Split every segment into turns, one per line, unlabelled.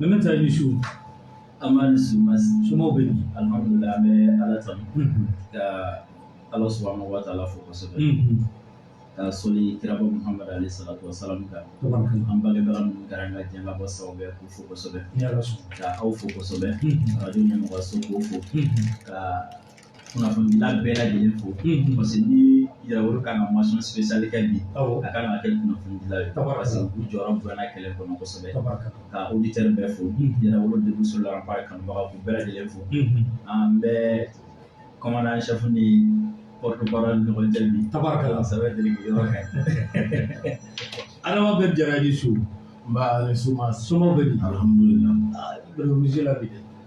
nba i ni su
somɔgɔw bɛ yen
an bɛ
ala tanu ka ala subhanahu wa taala fo kosɛbɛ ka sɔli kiraba muhamad alayhi salatu wasalamu kan an
bange
kɛra ka jan bɔ sababu bɛɛ ko fo kosɛbɛ ka aw
fo kosɛbɛ
arajo ɲɛmɔgɔso fo ka kunnafonidila bɛɛ lajɛlen fo parce que ni yɛrɛwolo kan ka mention spéciale kɛ bi a kan ka kɛ kunnafonidila ye parce que u jɔyɔrɔ bonyana kɛlɛ kɔnɔ kosɛbɛ ka auditeur bɛɛ fo yɛrɛwolo debout sur les remparts kanubaga k'u bɛɛ lajɛlen fo an bɛ commandant chef ni porte-parole ni ɲɔgɔn cɛ bi tabarikala sɛbɛ deli
yɔrɔ
kɛ adama
bɛn jara i ni su nba ni suma
somɔgɔ bɛ di alihamudulila bɛrɛ
wulila bi dɛ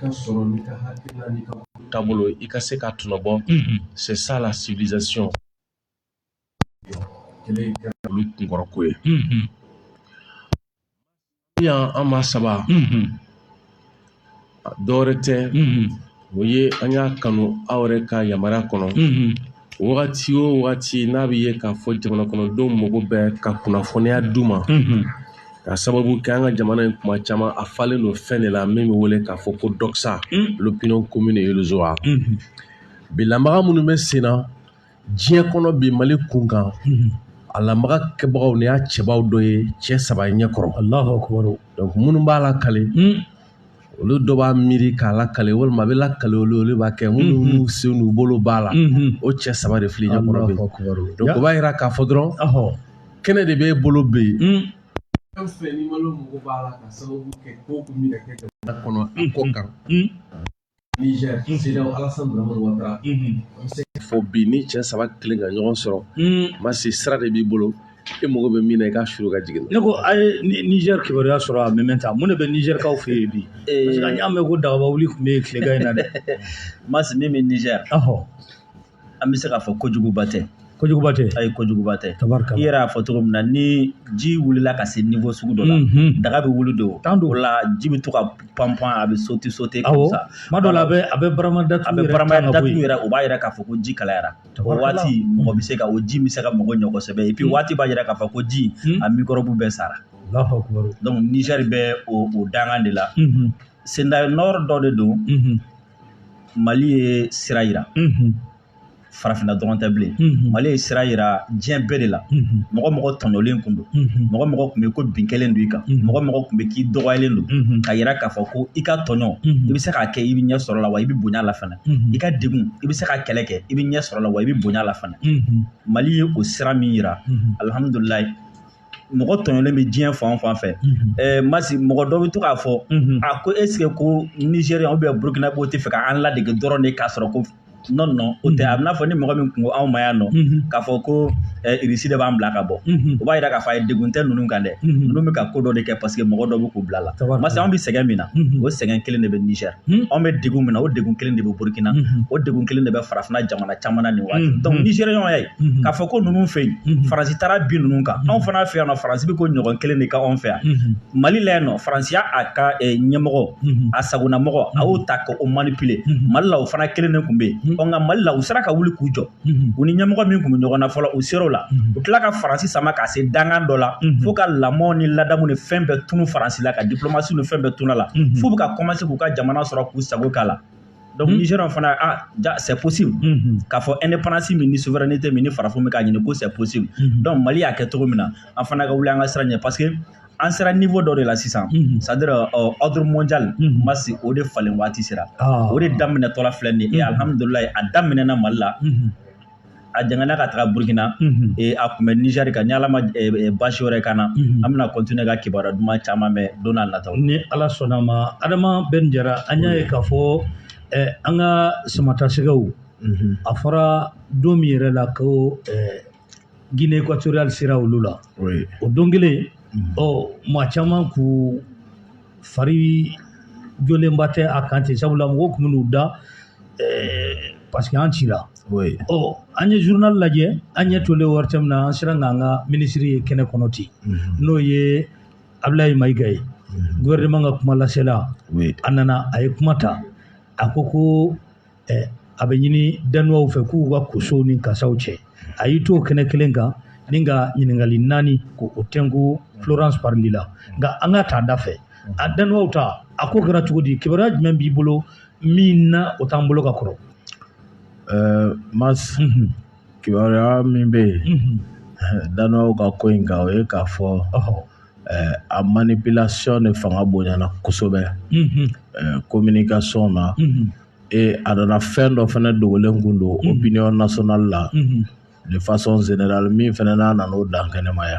ka sɔrɔ n'i ka hakilina n'i ka taabolo i ka se ka tɔnɔ bɔ c'est ça la civilisation kɔrɔ ko ye yan an ma saba dɔwɛrɛ tɛ o ye an y'a kanu aw yɛrɛ ka yamaruya kɔnɔ wagati o wagati n'a bɛ ye k'a fɔ jamana kɔnɔdenw mago bɛ ka kunnafoniya d'u ma ka sababu kɛ an ka jamana in kuma caman a falen don fɛn de la min bɛ wele k'a fɔ ko doxa l'opinion commune et les voix bi lamaga minnu bɛ sen na diɲɛ kɔnɔ bi mali kun kan a lamaga kɛbagaw n'i y'a cɛbaw dɔ ye cɛ saba ɲɛ kɔrɔ allahu akbar donc minnu b'a lakali olu dɔ b'a miiri k'a lakali walima a bɛ lakali olu olu b'a kɛ minnu sen n'u bolo b'a la o cɛ saba de filɛ ɲɛ kɔrɔ bi donc o b'a jira k'a fɔ dɔrɔn kɛnɛ de b'e bolo bɛ yen fo bi ni cɛ saba kelen ka ɲɔgɔn sɔrɔ marche sira de b'i bolo e mago bɛ min na i ka suuru ka jigin ne ko
a ye niger kibaruya sɔrɔ a mɛ taa mun de bɛ niger kaw fɛ yen bi an y'a mɛn ko dagaba wuli tun bɛ yen tilegan in na dɛ marche min
bɛ niger an bɛ se k'a fɔ kojuguba tɛ kojuguba tɛ ayi
kojuguba tɛ
i yɛrɛ y'a fɔ cogo min na ni ji wulila ka se niveau sugu dɔ la daga bɛ wuli dɛ o la ji bɛ to ka panpan a bɛ sauter sauter tuma dɔ la a bɛ a bɛ
barama da a bɛ barama da yɛrɛ o
b'a yira k'a fɔ ko ji kalayara o waati mɔgɔ bɛ se ka o ji bɛ se ka mago ɲɛ kosɛbɛ et puis waati b'a yira k'a fɔ ko ji a mikɔrɔbu bɛɛ sara donc niger bɛ o dangan de la sendayo nɔrɔ dɔ de don mali ye sira yira farafinna dɔrɔn tɛ bilen mali ye sira yira diɲɛ bɛɛ de la mɔgɔ o mɔgɔ tɔɲɔlen kun don mɔgɔ o mɔgɔ kun bɛ ko bin kɛlen don i kan mɔgɔ o mɔgɔ kun bɛ k'i dɔgɔyalen don ka yira k'a fɔ ko i ka tɔɲɔ i bɛ se k'a kɛ i bɛ ɲɛ sɔrɔ la wa i bɛ bonya la fana i ka degun i bɛ se ka kɛlɛ kɛ i bɛ ɲɛ sɔrɔ la wa i bɛ bonya la fana mali ye o sira min yira alihamudulilayi mɔgɔ tɔɲɔlen bɛ diɲɛ fan fan fɛ ɛɛ masi mɔgɔ dɔ bɛ to k'a fɔ a ko esike ko nizeriyɛn ou bien burukinabew tɛ fɛ ka an ladege dɔrɔn de k'a sɔrɔ ko nɔ nɔ o tɛ a bɛ n'a fɔ ni mɔgɔ min ko anw ma yan nɔ k'a fɔ ko irisi de b'an bila ka bɔ o b'a yira k'a fɔ ayi degun tɛ ninnu kan dɛ ninnu bɛ ka ko dɔ de kɛ paseke mɔgɔ dɔ bɛ k'u bila la masi anw bɛ sɛgɛn min na o sɛgɛn kelen de bɛ nizɛri anw bɛ degun min na o degun kelen de bɛ burukina o degun kelen de bɛ farafinna jamana caman na nin waati dɔnku nizeriyɛnw y'a ye k'a fɔ ko ninnu fɛ yen faransi taara bin ninnu kan anw fana fɛ yan nɔ faransi bɛ ko ɲɔgɔn kelen de k'anw fɛ yan mali la yan nɔ faransi y'a ka ɲɛmɔgɔ a sagonamɔgɔ a y'o ta ka o manipule mali la o fana kelen de tun bɛ yen ɔ nka mali la u sera ka wuli k'u jɔ u ni ɲɛmɔgɔ min tun bɛ ɲɔgɔn na fɔlɔ u ser'o la u tila ka faransi sama ka se dangan dɔ la fo ka lamɔ ni ladamu ni fɛn bɛɛ tunu faransi la ka diplomasi ni fɛn bɛɛ tunu la fo u bɛ ka kɔmanse k'u ka jamana sɔrɔ k'u sago k'a la donc hmm. Niger fana ah jaa c'est possible hmm, hmm. k'a fɔ indépendance min ni souveraineté min ni farafin bɛ k'a ɲini ko c'est possible donc Mali y'a kɛ cogo min na an fana ka wuli an ka sira ɲɛ parce que an sera niveau dɔ de la sisan c'est à dire euh, ordre mondial Masi o de falen waati sera ah. o de daminɛtɔla filɛ nin ye et alhamdulilayi a daminɛna Mali la a jangana ka taga burukina eh, a kun bɛ nizɛri kan ni ala ma eh, eh, baasi wɛrɛ k'an na an bɛna kɔntine ka kibaruya duman caman mɛn don n'a nataw ni ala sɔnn'a ma
adama bɛn jara an y'a ye k'a fɔ eh, an ka samatasɛgɛw mhm. a fɔra don min yɛrɛ la ko eh, guinée équatoriale sera olu la o don kelen mhm. ɔ maa caman k'u fari jɔlenba tɛ a kan ten sabula mɔgɔw tun bɛn'u da eh, parce que an cira oui. ɔ an ye journal lajɛ an ɲɛ tolen ORTM na an sera k'an ka minisiri ye kɛnɛ kɔnɔ ten n'o ye abulayi mayiga ye gouvernement ka kuma lasela oui. a nana a ye kuma ta a ko ko a bɛ ɲini danuwaw fɛ k'u ka kosow ni kasaw cɛ a y'i to o kɛnɛ kelen kan ni ka ɲininkali naani k'o tɛnku florence parly la nka an k'a ta da fɛ a danuwaw ta a ko kɛra cogo di kibaruya jumɛn b'i bolo min na o t'an bolo ka kɔrɔ mas
kibaruya min bɛ yen danuwaw ka ko in kan o ye k'a fɔ a manipulation de fanga bonyana kosɛbɛ communication na ee a nana fɛn dɔ fana dogolen kun don opinion nationale la de façon générale min fana n'a nana o dankɛnɛmaya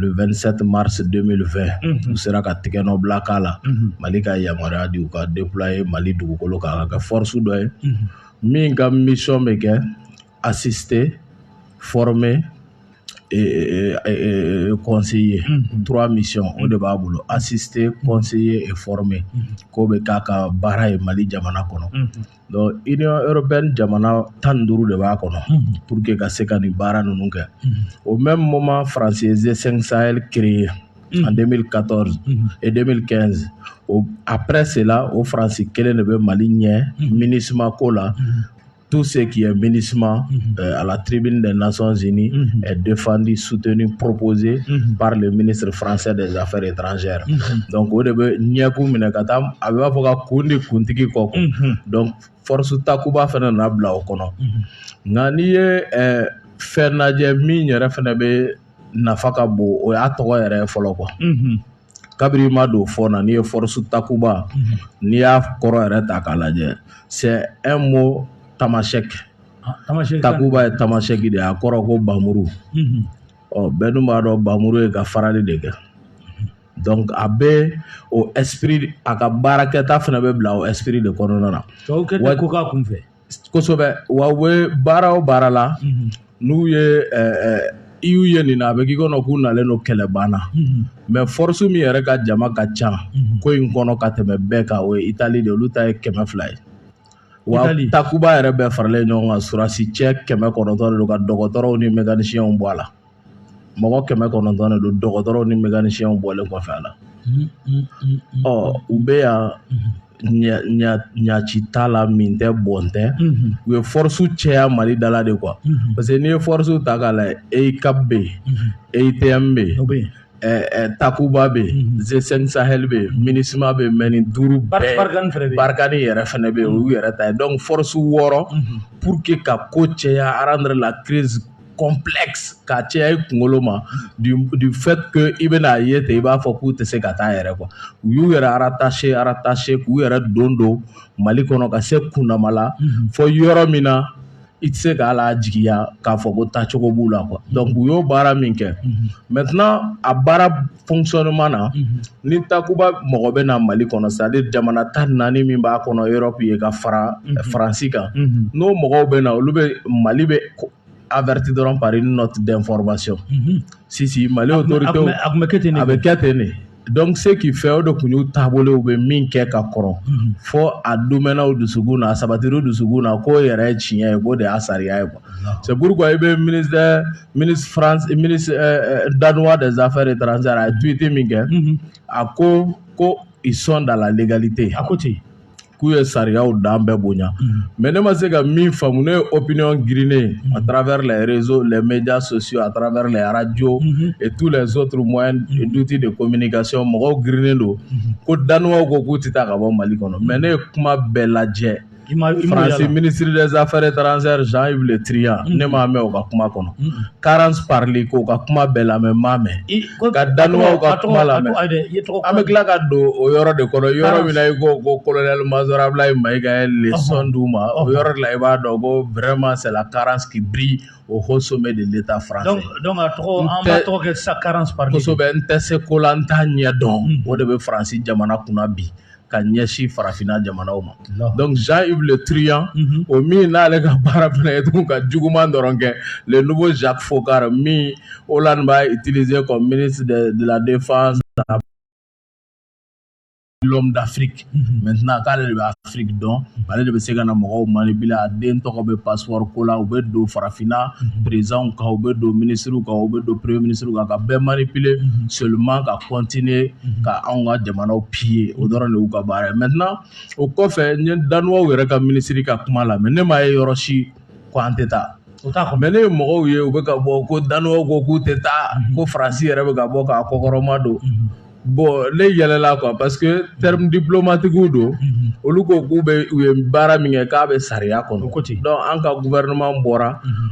le2sɛti marisi denmisɛn fɛ u sera ka tigɛ nɔbila k'a la mali ka yamaruya de ka de ye mali dugukolo kan ka kɛ forooroso dɔ ye min ka misɔn bɛ kɛ a sisete fɔ mɛ kɔnsi ye turaura misi o de b'a bolo a sisete kɔnsi ye fɔ mɛn k'o bɛ k'a ka baara ye mali jamana kɔnɔ yɔrɔ bɛ jamana tan ni duuru de b'a kɔnɔ pur que ka se ka nin baara ninnu kɛ o bɛ mɔ ma faransensensaali kire ye an denmisɛnnin ka tɔɔrɔ e den kɛ a pɛ se o faransi kelen de bɛ mali ɲɛ minima ko la tu se k'i ye mini ala tibi de naon zeni defandi sut ni ppzse baara de minisiriri faransɛ de lafɛ dezranzeyara dɔnku o de bɛ ɲɛkun minɛ ka taa a b'a fɔ ka kun de kuntigi quoi donc force takuba fana nana bila o kɔnɔ nka n'i ye fɛn lajɛ min yɛrɛ fana bɛ nafa ka bon o y'a tɔgɔ yɛrɛ fɔlɔ kɔ kabini ma don fɔ na n'i ye force takuba n'i y'a kɔrɔ yɛrɛ ta k'a lajɛ c'est un mot tamasɛki takuba ye tamasɛki de a kɔrɔ ko npanmuru ɔ bɛɛ dun b'a dɔn npanmuru ye ka farali de kɛ a bɛ o esprit a ka baarakɛta fana bɛ bila o esprit de kɔnɔna na tɔw kɛ ko ka kun fɛ kosɛbɛ wa u bɛ baara o baara la n'u ye i y'u ye nin na a bɛ k'i kɔnɔ k'u nalen don kɛlɛ banna mais force min yɛrɛ ka jama ka ca ko in kɔnɔ ka tɛmɛ bɛɛ kan o ye itali de olu ta ye kɛmɛ fila ye wa takuba yɛrɛ bɛɛ faralen ɲɔgɔn kan surasi cɛ kɛmɛ kɔnɔntɔn de don ka dɔgɔtɔrɔw ni mɛkanisiɲɛw bɔ a la mɔgɔ kɛmɛ kɔnɔntɔn de don dɔgɔtɔrɔw ni mɛkanisiɲɛw bɔlen kɔfɛ a la ɔ u bɛ yan ɲaci t'a la min tɛ bɔn tɛ u ye force cɛya mali da la de quoi parce que n'i ye force ta k'a lajɛ eucap bɛ yen eutm bɛ yen takuba bɛ yen g5 sahel bɛ yen minusma bɛ yen mais nin duuru bɛɛ barkhane yɛrɛ fana bɛ yen u yɛrɛ ta ye donc force wɔɔrɔ pour que ka ko cɛya rendre la crise complexe ka cɛya i kunkolo ma du fait que i bɛna a ye ten i b'a fɔ k'u tɛ se ka taa yɛrɛ quoi u y'u yɛrɛ rattacher rattacher k'u yɛrɛ don don mali kɔnɔ ka se kundama la fɔ yɔrɔ min na i tɛ se k'a la jigiya k'a fɔ ko taacogo b'u la quoi donc u y'o baara min kɛ maintenant a baara fonctionnement na ni takuba mɔgɔ bɛ na mali kɔnɔ c'est-à-dire jamana tan ni naani min b'a kɔnɔ européen ye ka fara faransi kan n'o mɔgɔw bɛ na olu bɛ mali bɛ avertir dɔrɔn par une note d'information ci mali autorité a bɛ kɛ ten nin donc ce qui fait o de tun y'u taabolo u bɛ min kɛ ka kɔrɔ fɔ a donna u dusukun na a sabatira u dusukun na k'o yɛrɛ tiɲɛ ye k'o de y'a sariya ye quoi c'est pourquoi i bɛ ministre minisiri faransi ministre danois des affaires étrangères a ye tweet min kɛ a ko ko ils sont dans la légalité a ko ten k'u ye sariyaw dan bɛɛ bonya mais ne ma se ka min faamu ne ye opinion girinnen à travers les réseaux les médias sociaux à travers les radios et tous les autres moyens d'outils de communication mɔgɔw girinnen don ko danuwaw ko k'u tɛ taa ka bɔ mali kɔnɔ mais ne ye kuma bɛɛ lajɛ Fransi minisiri dɛsɛzafɛɛrɛ taararanzeri zan weele tya ne m'a mɛn u ka kuma kɔnɔ karan pali ko ka kuma bɛɛ la mɛ m'a mɛn ka dan ka tɔgɔ la an bɛ tila ka don o yɔrɔ de kɔnɔ yɔrɔ min i ko ko kolonlɛ masɔrɔla ye ma ika le sɔn di ma o yɔrɔ la i b'a dɔn ko bɛrɛ masala karansi bi o ko so bɛ de le ta fara tɔgɔ
sa karansɛbɛ n tɛ se ko
la n' ɲɛ dɔn o de bɛ faransi jamana kunna bi ka ɲɛsin farafinna jamanaw ma donc Jean Yves Le Truand mhm. o min n'ale ka baara fana ye tun ka juguman dɔrɔn kɛ le nouveau Jacques Foccart min Hollande b'a utiliser comme ministre de, de la défense l'homme d'Afrique mhm. maintenant k'ale de bɛ Afrique dɔn mhm. ale de bɛ se ka na mɔgɔw manipuler a den tɔgɔ bɛ passeport ko la u bɛ don farafinna présidents kan u bɛ don ministres kan u bɛ don premier ministre kan ka bɛɛ manipuler seulement ka continuer ka anw ka jamanaw piller o dɔrɔn de y'u ka baara ye maintenant o kɔfɛ n ye danuwaw yɛrɛ ka minisiri ka kuma lamɛn ne m'a ye yɔrɔ si ko an tɛ taa mais ne ye mɔgɔw ye u bɛ ka bɔ ko danuwaw ko k'u tɛ taa ko faransi yɛrɛ bɛ ka bɔ k'a kɔkɔrɔma don bon ne yɛlɛla quoi parce que terme diplomatique don olu ko k'u bɛ u ye baara min kɛ k'a bɛ sariya kɔnɔ donc an ka gouvernement bɔra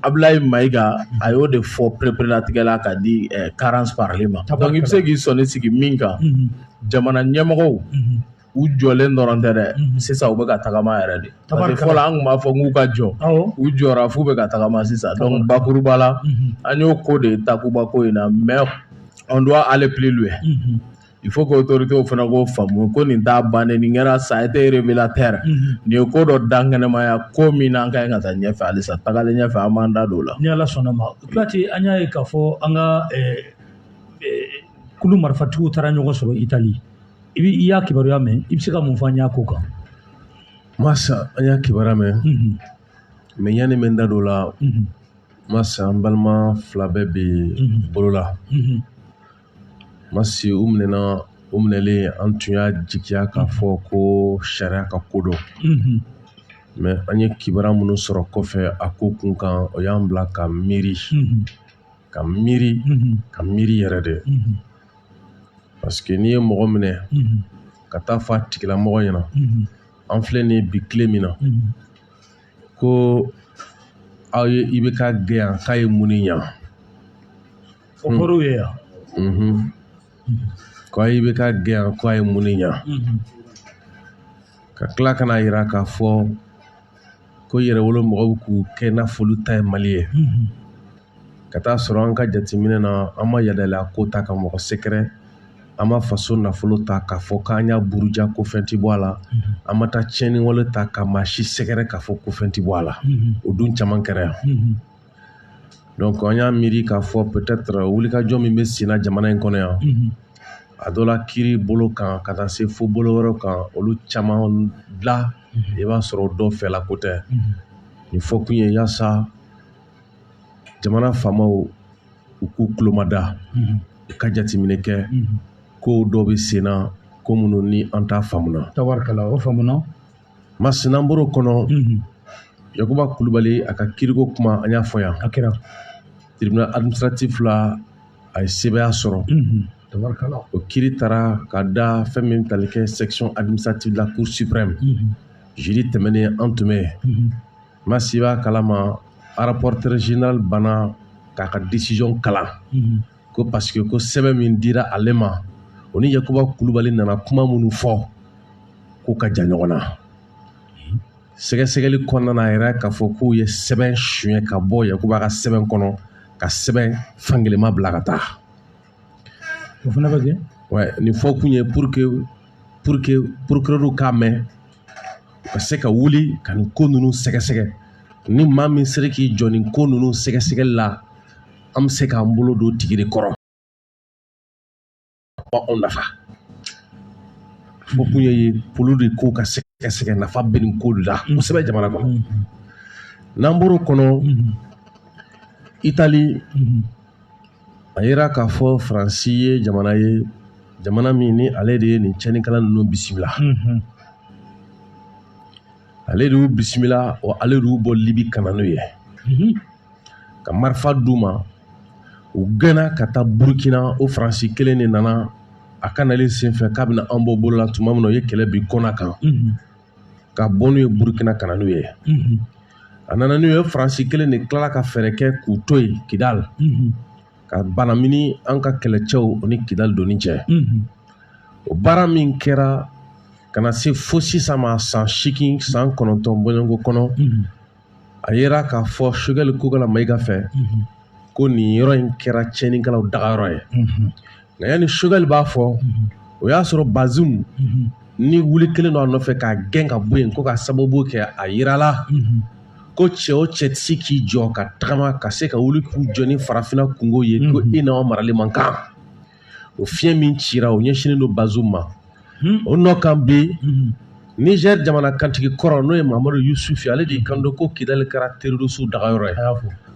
Abulayi Mayiga a y'o de fɔ pereperelatigɛ la ka di Carence Parly ma donc i bɛ se k'i sɔnni sigi min kan jamana ɲɛmɔgɔw u jɔlen dɔrɔn tɛ dɛ sisan u bɛ ka tagama yɛrɛ de parce que fɔlɔ an tun b'a fɔ k'u ka jɔ u jɔra f'u bɛ ka tagama sisan donc bakuruba la an y'o ko de ye Takuba ko in na mais on doit aller plus loin il faut que autoritésw fana k'o faamu ko nin t'a bannen nin kɛra ça a été révélateur nin ye ko dɔ dankɛnɛmaya ko min n'an ka ɲi ka taa ɲɛfɛ halisa tagalen ɲɛfɛ an b'an da don o la ni ala sɔnna ma Kuyate
an y'a ye k'a fɔ an ka eh, eh, kulu marifatigiw taara ɲɔgɔn sɔrɔ itali i bɛ i y'a kibaruya mɛn i bɛ se ka mun fɔ an y'a ko kan
masa an y'a kibaruya mɛn Mhm, mais yanni n bɛ n da don o la mhm, masa an balima fila bɛɛ bɛ mhm, bolo la mhm. masi u minɛna u minɛlen an tun y'a jigiya k'a fɔ ko sariya ka ko don mais an ye kibaruya minnu sɔrɔ kɔfɛ a ko kun kan o y'an bila ka miiri ka miiri ka miiri yɛrɛ de parce que n'i ye mɔgɔ minɛ ka taa fɔ a tigilamɔgɔ ɲɛna an filɛ nin ye bi tile min na ko aw ye IBK gɛn yan k'a ye mun ne ɲa
O kɔrɔ ye
yan ko IBK gɛn yan ko a ye mun ne ɲa ka tila ka n'a yira k'a fɔ ko yɛrɛwolo mɔgɔw k'u kɛ i n'a fɔ olu ta ye mali ye ka taa sɔrɔ an ka jateminɛ na an ma yadalenya ko ta ka mɔgɔ sɛgɛrɛ an ma faso nafolo ta k'a fɔ k'an y'a buruja ko fɛn tɛ bɔ a la an ma taa tiɲɛni wale ta ka maa si sɛgɛrɛ k'a fɔ ko fɛn tɛ bɔ a la o dun caman kɛra yan donc an y'a miiri k'a fɔ peut-être wulikajɔ min bɛ senna jamana in kɔnɔ yan mhm. a dɔ la kiiri bolo kan ka taa se fo bolo wɛrɛw kan olu caman la mhm. i b'a sɔrɔ dɔ fɛla ko tɛ mhm. nin fɔ kun ye yaasa jamana faamaw u k'u tulomada u ka jateminɛ kɛ ko dɔ bɛ senna ko minnu ni an t'a faamuna tabarikala o faamuna
masi n'an
bɔr'o kɔnɔ yakuba kulubali a ka kiiriko kuma an y'a fɔ yan a
kɛra
tribunal administratif la a ye sebaaya sɔrɔ
o kiiri taara
ka da fɛn min tali kɛ section administrative de la cour suprême jeudi tɛmɛnen an tun bɛ yen masi b'a kalama rapporteur général banna k'a ka décision kalan ko parce que ko sɛbɛn min dira ale ma o ni yakuba kulubali nana kuma minnu fɔ k'u ka jan ɲɔgɔn na sɛgɛsɛgɛli kɔnɔna na a yɛrɛ k'a fɔ k'u ye sɛbɛn suɲɛ ka bɔ yakuba ka sɛbɛn kɔnɔ ka sɛbɛn fankelenma bila ka taa
o fana bɛ kɛ ouais, nin fɔ kun ye
pour que pour que procureur k'a mɛn u ka se ka wuli ka nin ko ninnu sɛgɛsɛgɛ ni maa min sera k'i jɔ nin ko ninnu sɛgɛsɛgɛli la an bɛ se k'an bolo don tigi de kɔrɔ anw nafa fɔ kun ye pour que ko ka sɛgɛsɛgɛ nafa bɛ nin ko de la kosɛbɛ jamana kɔnɔ n'an bɔr'o kɔnɔ itali y'a yira k'a fɔ faransi ye jamana ye jamana min ni ale de ye nin cɛnnikɛla ninnu bisimila ale de y'u bisimila wa ale de y'u bɔ libi ka na n'u ye ka marifa d'u ma u gɛnna ka taa burukina o faransi kelen de nana a ka nali senfɛ k'a bɛna an bɔ bolola tuma min na u ye kɛlɛ bin kɔna kan ka bɔ n'u ye burukina ka na n'u ye a nana n'u ye faransi kelen de tilala ka fɛɛrɛ kɛ k'u to yen kidali ka banamini an ka kɛlɛcɛw o ni kidali donni cɛ o baara min kɛra ka na se fo sisan ma san seegin san kɔnɔntɔn bɔɲɔgɔnko kɔnɔ a yera k'a fɔ sogɛli kokala mayiga fɛ ko nin yɔrɔ in kɛra tiɲɛnikɛlaw dagayɔrɔ ye nka yanni sogɛli b'a fɔ o y'a sɔrɔ bazum ni wuli kɛlen don a nɔfɛ k'a gɛn ka bɔ yen ko ka sababu kɛ a yirala ko cɛ o cɛ tɛ se k'i jɔ ka tagama ka se ka wuli k'u jɔ ni farafinna kunko ye ko i n'aw marali man kan o fiɲɛ min cira o ɲɛsinnen don bazum ma hmm. o nɔ kan bi hmm. nizɛri jamana kantigi kɔrɔ n'o ye mahamadu yusufi ale de kan don ko kidali kɛra terroriste dagayɔrɔ ye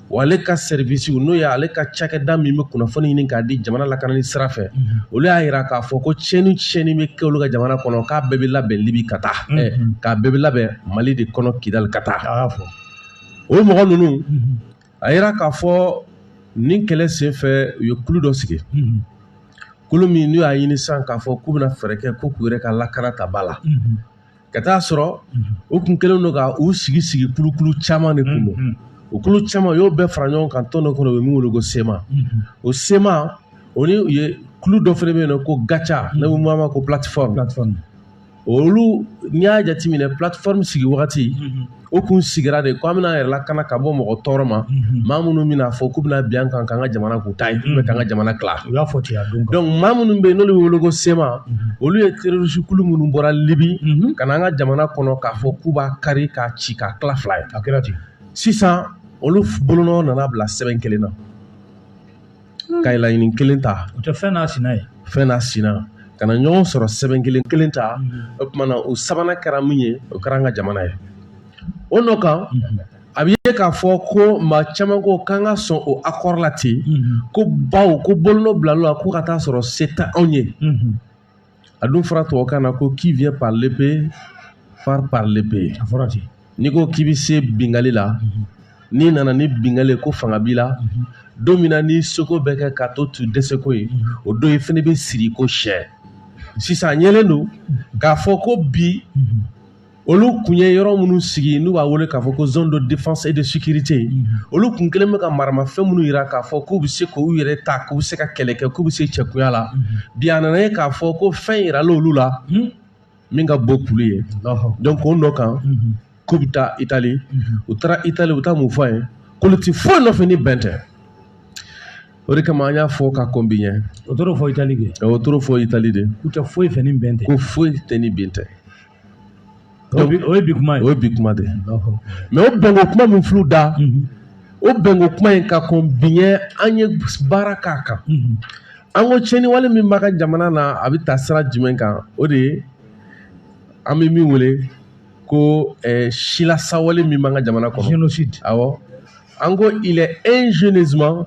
wa ale ka sɛrivisiw n'o ye ale ka cakɛda min bɛ kunnafoni ɲini k'a di jamana lakanani sira fɛ hmm. olu y'a yira k'a fɔ ko tiɲɛni tiɲɛni bɛ kɛ olu ka jamana kɔnɔ k'a bɛɛ bɛ labɛn libi ka taa k'a bɛɛ bɛ labɛn mali de kɔnɔ kidali ka taa o mɔgɔ ninnu a yira k'a fɔ nin kɛlɛ senfɛ u ye kulu dɔ sigi kulu min n'u y'a ɲini sisan k'a fɔ k'u bɛna fɛɛrɛ kɛ ko k'u yɛrɛ ka lakana ta ba la ka taa sɔrɔ u tun kɛlen don ka u sigi sigi kulukulu caman de kun don o kulu caman u y'o bɛɛ fara ɲɔgɔn kan tɔn dɔ kɔnɔ u bɛ min wele ko sema o sema o ni u ye kulu dɔ fana bɛ yen nɔ ko gaca n'a bɛ f'a ma ko plateforme olu n'i y'a jateminɛ plateforme sigi wagati o kun sigira de ko an bɛna yɛrɛ lakana ka bɔ mɔgɔ tɔɔrɔ ma maa minnu bɛna fɔ k'u bɛna bin an kan k'an ka jamana k'u ta ye k'u bɛ k'an ka jamana tila u y'a fɔ ten a don
donc maa minnu bɛ yen
n'olu bɛ wele ko sema olu ye terroriste kulu minnu bɔra libi ka na an ka jamana kɔnɔ k'a fɔ k'u b'a kari k'a ci k'a tila fila ye a kɛra ten
sisan
olu bolonɔ nana bila sɛbɛn kelen na ka ye laɲini kelen ta o tɛ fɛn n'a sina
ye fɛn n'a
sina ka na ɲɔgɔn sɔrɔ sɛbɛn kelen kelen ta o tuma na o sabanan kɛra min ye o kɛra an ka jamana ye o nɔ kan a bɛ ye k'a fɔ ko maa caman ko k'an ka sɔn o akɔri la ten ko bawo ko bolonɔ bilala ko ka taa sɔrɔ se tɛ anw ye a dun fɔra tubabukan na ko qui vient par l'épée part par l'épée a fɔra ten n'i
ko k'i bɛ se
bingali la n'i nana ni bingali ye ko fanga b'i la don min na n'i seko bɛɛ kɛ k'a tɔ to dɛsɛko ye o don i fana bɛ siri ko sɛ sisan a yelen don k'a fɔ ko bi olu tun ye yɔrɔ minnu sigi n'u b'a wele k'a fɔ ko zone de défense et de sécurité olu tun kɛlen bɛ ka maramafɛn minnu yira k'a fɔ k'u bɛ se k'u yɛrɛ ta k'u bɛ se ka kɛlɛ kɛ k'u bɛ se cɛkunya la bi a nana ye k'a fɔ ko fɛn yirala olu la min ka bon k'olu ye donc o nɔ kan k'u bɛ taa Itali u taara Itali u bɛ taa mun fɔ a ye k'olu tɛ foyi nɔfɛ ni bɛn tɛ o de kama an y'a fɔ ka kɔn bi ɲɛ o t'o fɔ Itali de
o t'o fɔ Itali de
u tɛ foyi fɛ ni bɛn
tɛ ko foyi tɛ ni
bɛn
tɛ o ye bi kuma ye o ye bi kuma
de mais o bɛnko kuma min filɛ da o bɛnko kuma in ka kɔn bi ɲɛ an ye baara k'a kan an ko tiɲɛni wale min b'an ka jamana na a bɛ taa sira jumɛn kan o de ye an bɛ min wele ko eh, silasawale min b'an ka jamana kɔnɔ génocide awɔ an ko il est ingénieusement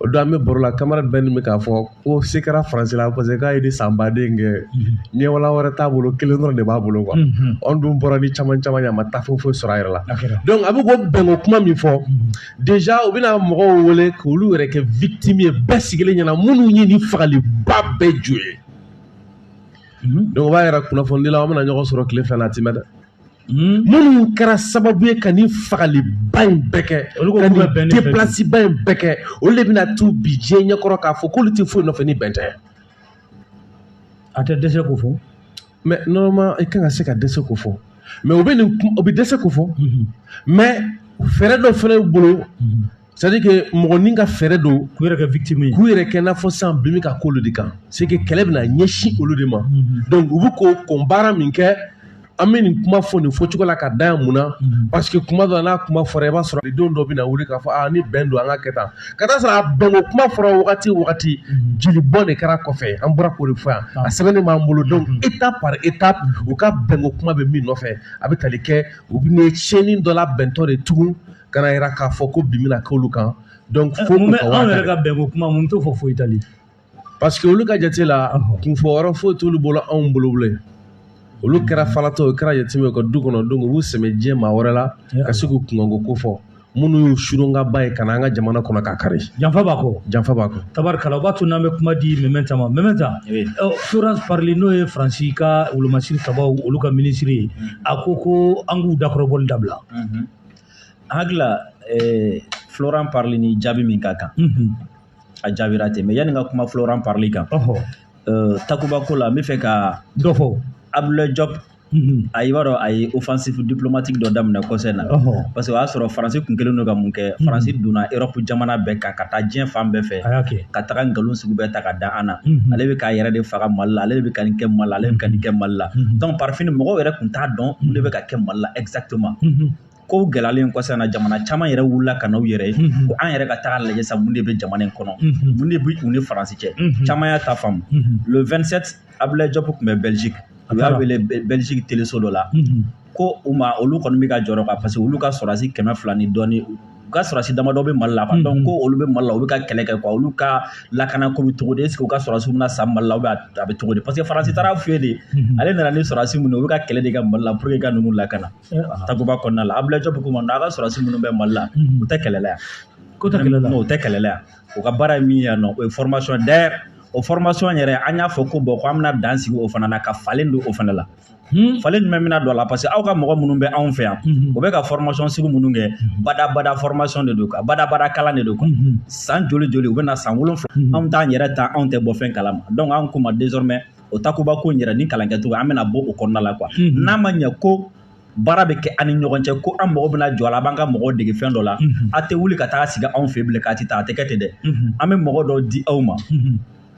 o don an bɛ baro la camarade bɛɛ nin bɛ k'a fɔ ko se kɛra faransi la parce que k'a ye ni san baden kɛ mhm. ɲɛwala wɛrɛ t'a bolo kelen dɔrɔn de b'a bolo quoi mhm. anw dun bɔra ni caman caman ye a ma taa foyi foyi sɔrɔ a yɛrɛ la donc a bɛ k'o bɛnko kuma min fɔ mhm. déjà u bɛna mɔgɔw wele k'olu yɛrɛ kɛ victime ye bɛɛ sigilen ɲɛna minnu ye nin fagaliba bɛɛ ju ye donc o b'a yɛrɛ kunnafonidilaw an bɛna ɲɔgɔn sɔrɔ tile fila la a tɛ mɛn dɛ Hmm? minnu kɛra sababu ye ka nin fagaliba in bɛɛ kɛ ka nin deplasiba in bɛɛ kɛ olu de bɛna t'u bi diɲɛ ɲɛkɔrɔ k'a fɔ k'olu tɛ foyi nɔfɛ ni bɛn tɛ
a tɛ dɛsɛ k'o fɔ mais
normalement i kan ka se ka dɛsɛ k'o fɔ mais u bɛ nin u bɛ dɛsɛ k'o fɔ mais fɛɛrɛ dɔ fana bolo c'est-à-dire que mɔgɔ nin ka fɛɛrɛ don k'u yɛrɛ kɛ victime ye
k'u yɛrɛ kɛ i n'a fɔ
sisan bin bɛ ka k'olu de kan c'est que kɛlɛ bɛna ɲɛsin olu de ma donc u bɛ k'o kɔn baara min kɛ an bɛ nin kuma fɔ nin fɔcogo la ka da yan mun na parce que kuma dɔ n'a kuma fɔra i b'a sɔrɔ don dɔ bɛna wuli k'a fɔ aa ni bɛn don an ka kɛ tan ka taa sɔrɔ a bɛnko kuma fɔra wagati o wagati jeli bɔn de kɛra kɔfɛ an bɔra k'o de fɔ yan a sɛbɛnnen b'an bolo donc étape par étape u ka bɛnko kuma bɛ min nɔfɛ a bɛ tali kɛ u bɛ tiɲɛni dɔ la bɛntɔ de tugun ka n'a yira k'a fɔ ko bin bɛna k'olu kan donc fo u ka anw yɛrɛ ka
bɛnko kuma mun t'o fɔ foyi tali parce que olu
ka jate la kunfɔ yɔrɔ foyi t'olu bolo anw bolo bilen olu kɛra falatɔ o kɛra yatimɛ ka du kɔnɔ donc u b'u sɛmɛ diɲɛ maa wɛrɛ la ka se k'u kunkanko ko fɔ minnu y'u suronkanba ye ka na an ka jamana kɔnɔ k'a kari janfa b'a kɔ
janfa b'a kɔ tabarikala o b'a to n'an bɛ kuma di mɛmɛnta ma mɛmɛnta Florence Parly n'o ye faransi ka wolomasiri sabaw olu ka minisiri ye a ko ko an k'u dakɔrɔbɔli dabila
hakili la eh, floran parili ni jaabi min ka kan a jaabira ten mais yanni n ka kuma floran parili kan eh, takuba ko la n bɛ fɛ ka dɔ fɔ
abdulayi jɔp
Mm-hmm. a i b'a dɔn a ye offensive diplomatique dɔ daminɛ kɔsɛ in na parce que o y'a sɔrɔ faransi kun kɛlen don ka mun kɛ mm-hmm. faransi donna europe jamana bɛɛ kan ka taa diɲɛ fan bɛɛ fɛ ka taga nkalon sugu bɛɛ ta ka da an na mm-hmm. ale bɛ k'a yɛrɛ de faga mali la ale de bɛ ka nin kɛ mali la ale bɛ ka nin kɛ mali la donc par fini mɔgɔw yɛrɛ kun t'a dɔn mun de bɛ ka kɛ mali la exactement mhm. ko gɛlɛyalen kɔsɛ in na jamana caman yɛrɛ wulila ka n'u yɛrɛ ye mhm. ko an yɛrɛ ka taga lajɛ sa mun de bɛ jamana in kɔnɔ mhm. mun de bɛ u ni faransi cɛ caman y'a ta faamu le 27 abulaye jɔpu tun bɛ belgique u y'a wele belgique teleso dɔ la ko u ma olu kɔni bɛ ka jɔrɔ kan parce que olu ka sɔrɔdasi kɛmɛ fila ni dɔɔni u ka sɔrɔdasi damadɔ bɛ mali la donc ko olu bɛ mali la u bɛ ka kɛlɛ kɛ quoi olu ka lakana ko bɛ cogo di est-ce que u ka sɔrɔdasiw bɛna sa mali la a bɛ cogo di parce que faransi taara f'u ye de ale nana ni sɔrɔdasi minnu u bɛ ka kɛlɛ de kɛ mali la pour que ka ninnu lakana takuba kɔnɔna la abulaye jɔpu ko u ma a ka sɔrɔdasi minnu bɛ mali la u tɛ kɛlɛ la yan ko u tɛ kɛlɛ la non
u tɛ kɛlɛ la
yan u ka baara ye min ye yan nɔ o ye formation d'ailleurs o formation yɛrɛ an y'a fɔ ko bon ko an bɛna dan sigi o fana na ka falen don o fana la Hmm? falen jumɛn bɛna don a la parce que aw ka mɔgɔ minnu bɛ anw fɛ yan hmm. u bɛ ka formation sugu minnu kɛ hmm. badabada formation de don quoi badabada kalan de don quoi san joli joli u bɛna san wolonwula anw t'an yɛrɛ ta anw tɛ bɔ fɛn kalama donc anw ko u ma désormais o takuba ko in yɛrɛ ni kalan kɛcogo an bɛna bɔ o kɔnɔna la quoi n'a ma ɲɛ ko baara bɛ kɛ an ni ɲɔgɔn cɛ ko an mɔgɔ bɛna jɔ a la b'an ka mɔgɔw dege fɛn dɔ la a tɛ wuli ka taa sigi anw fɛ bilen k'a ti taa a tɛ kɛ ten dɛ an bɛ mɔgɔ dɔw di aw ma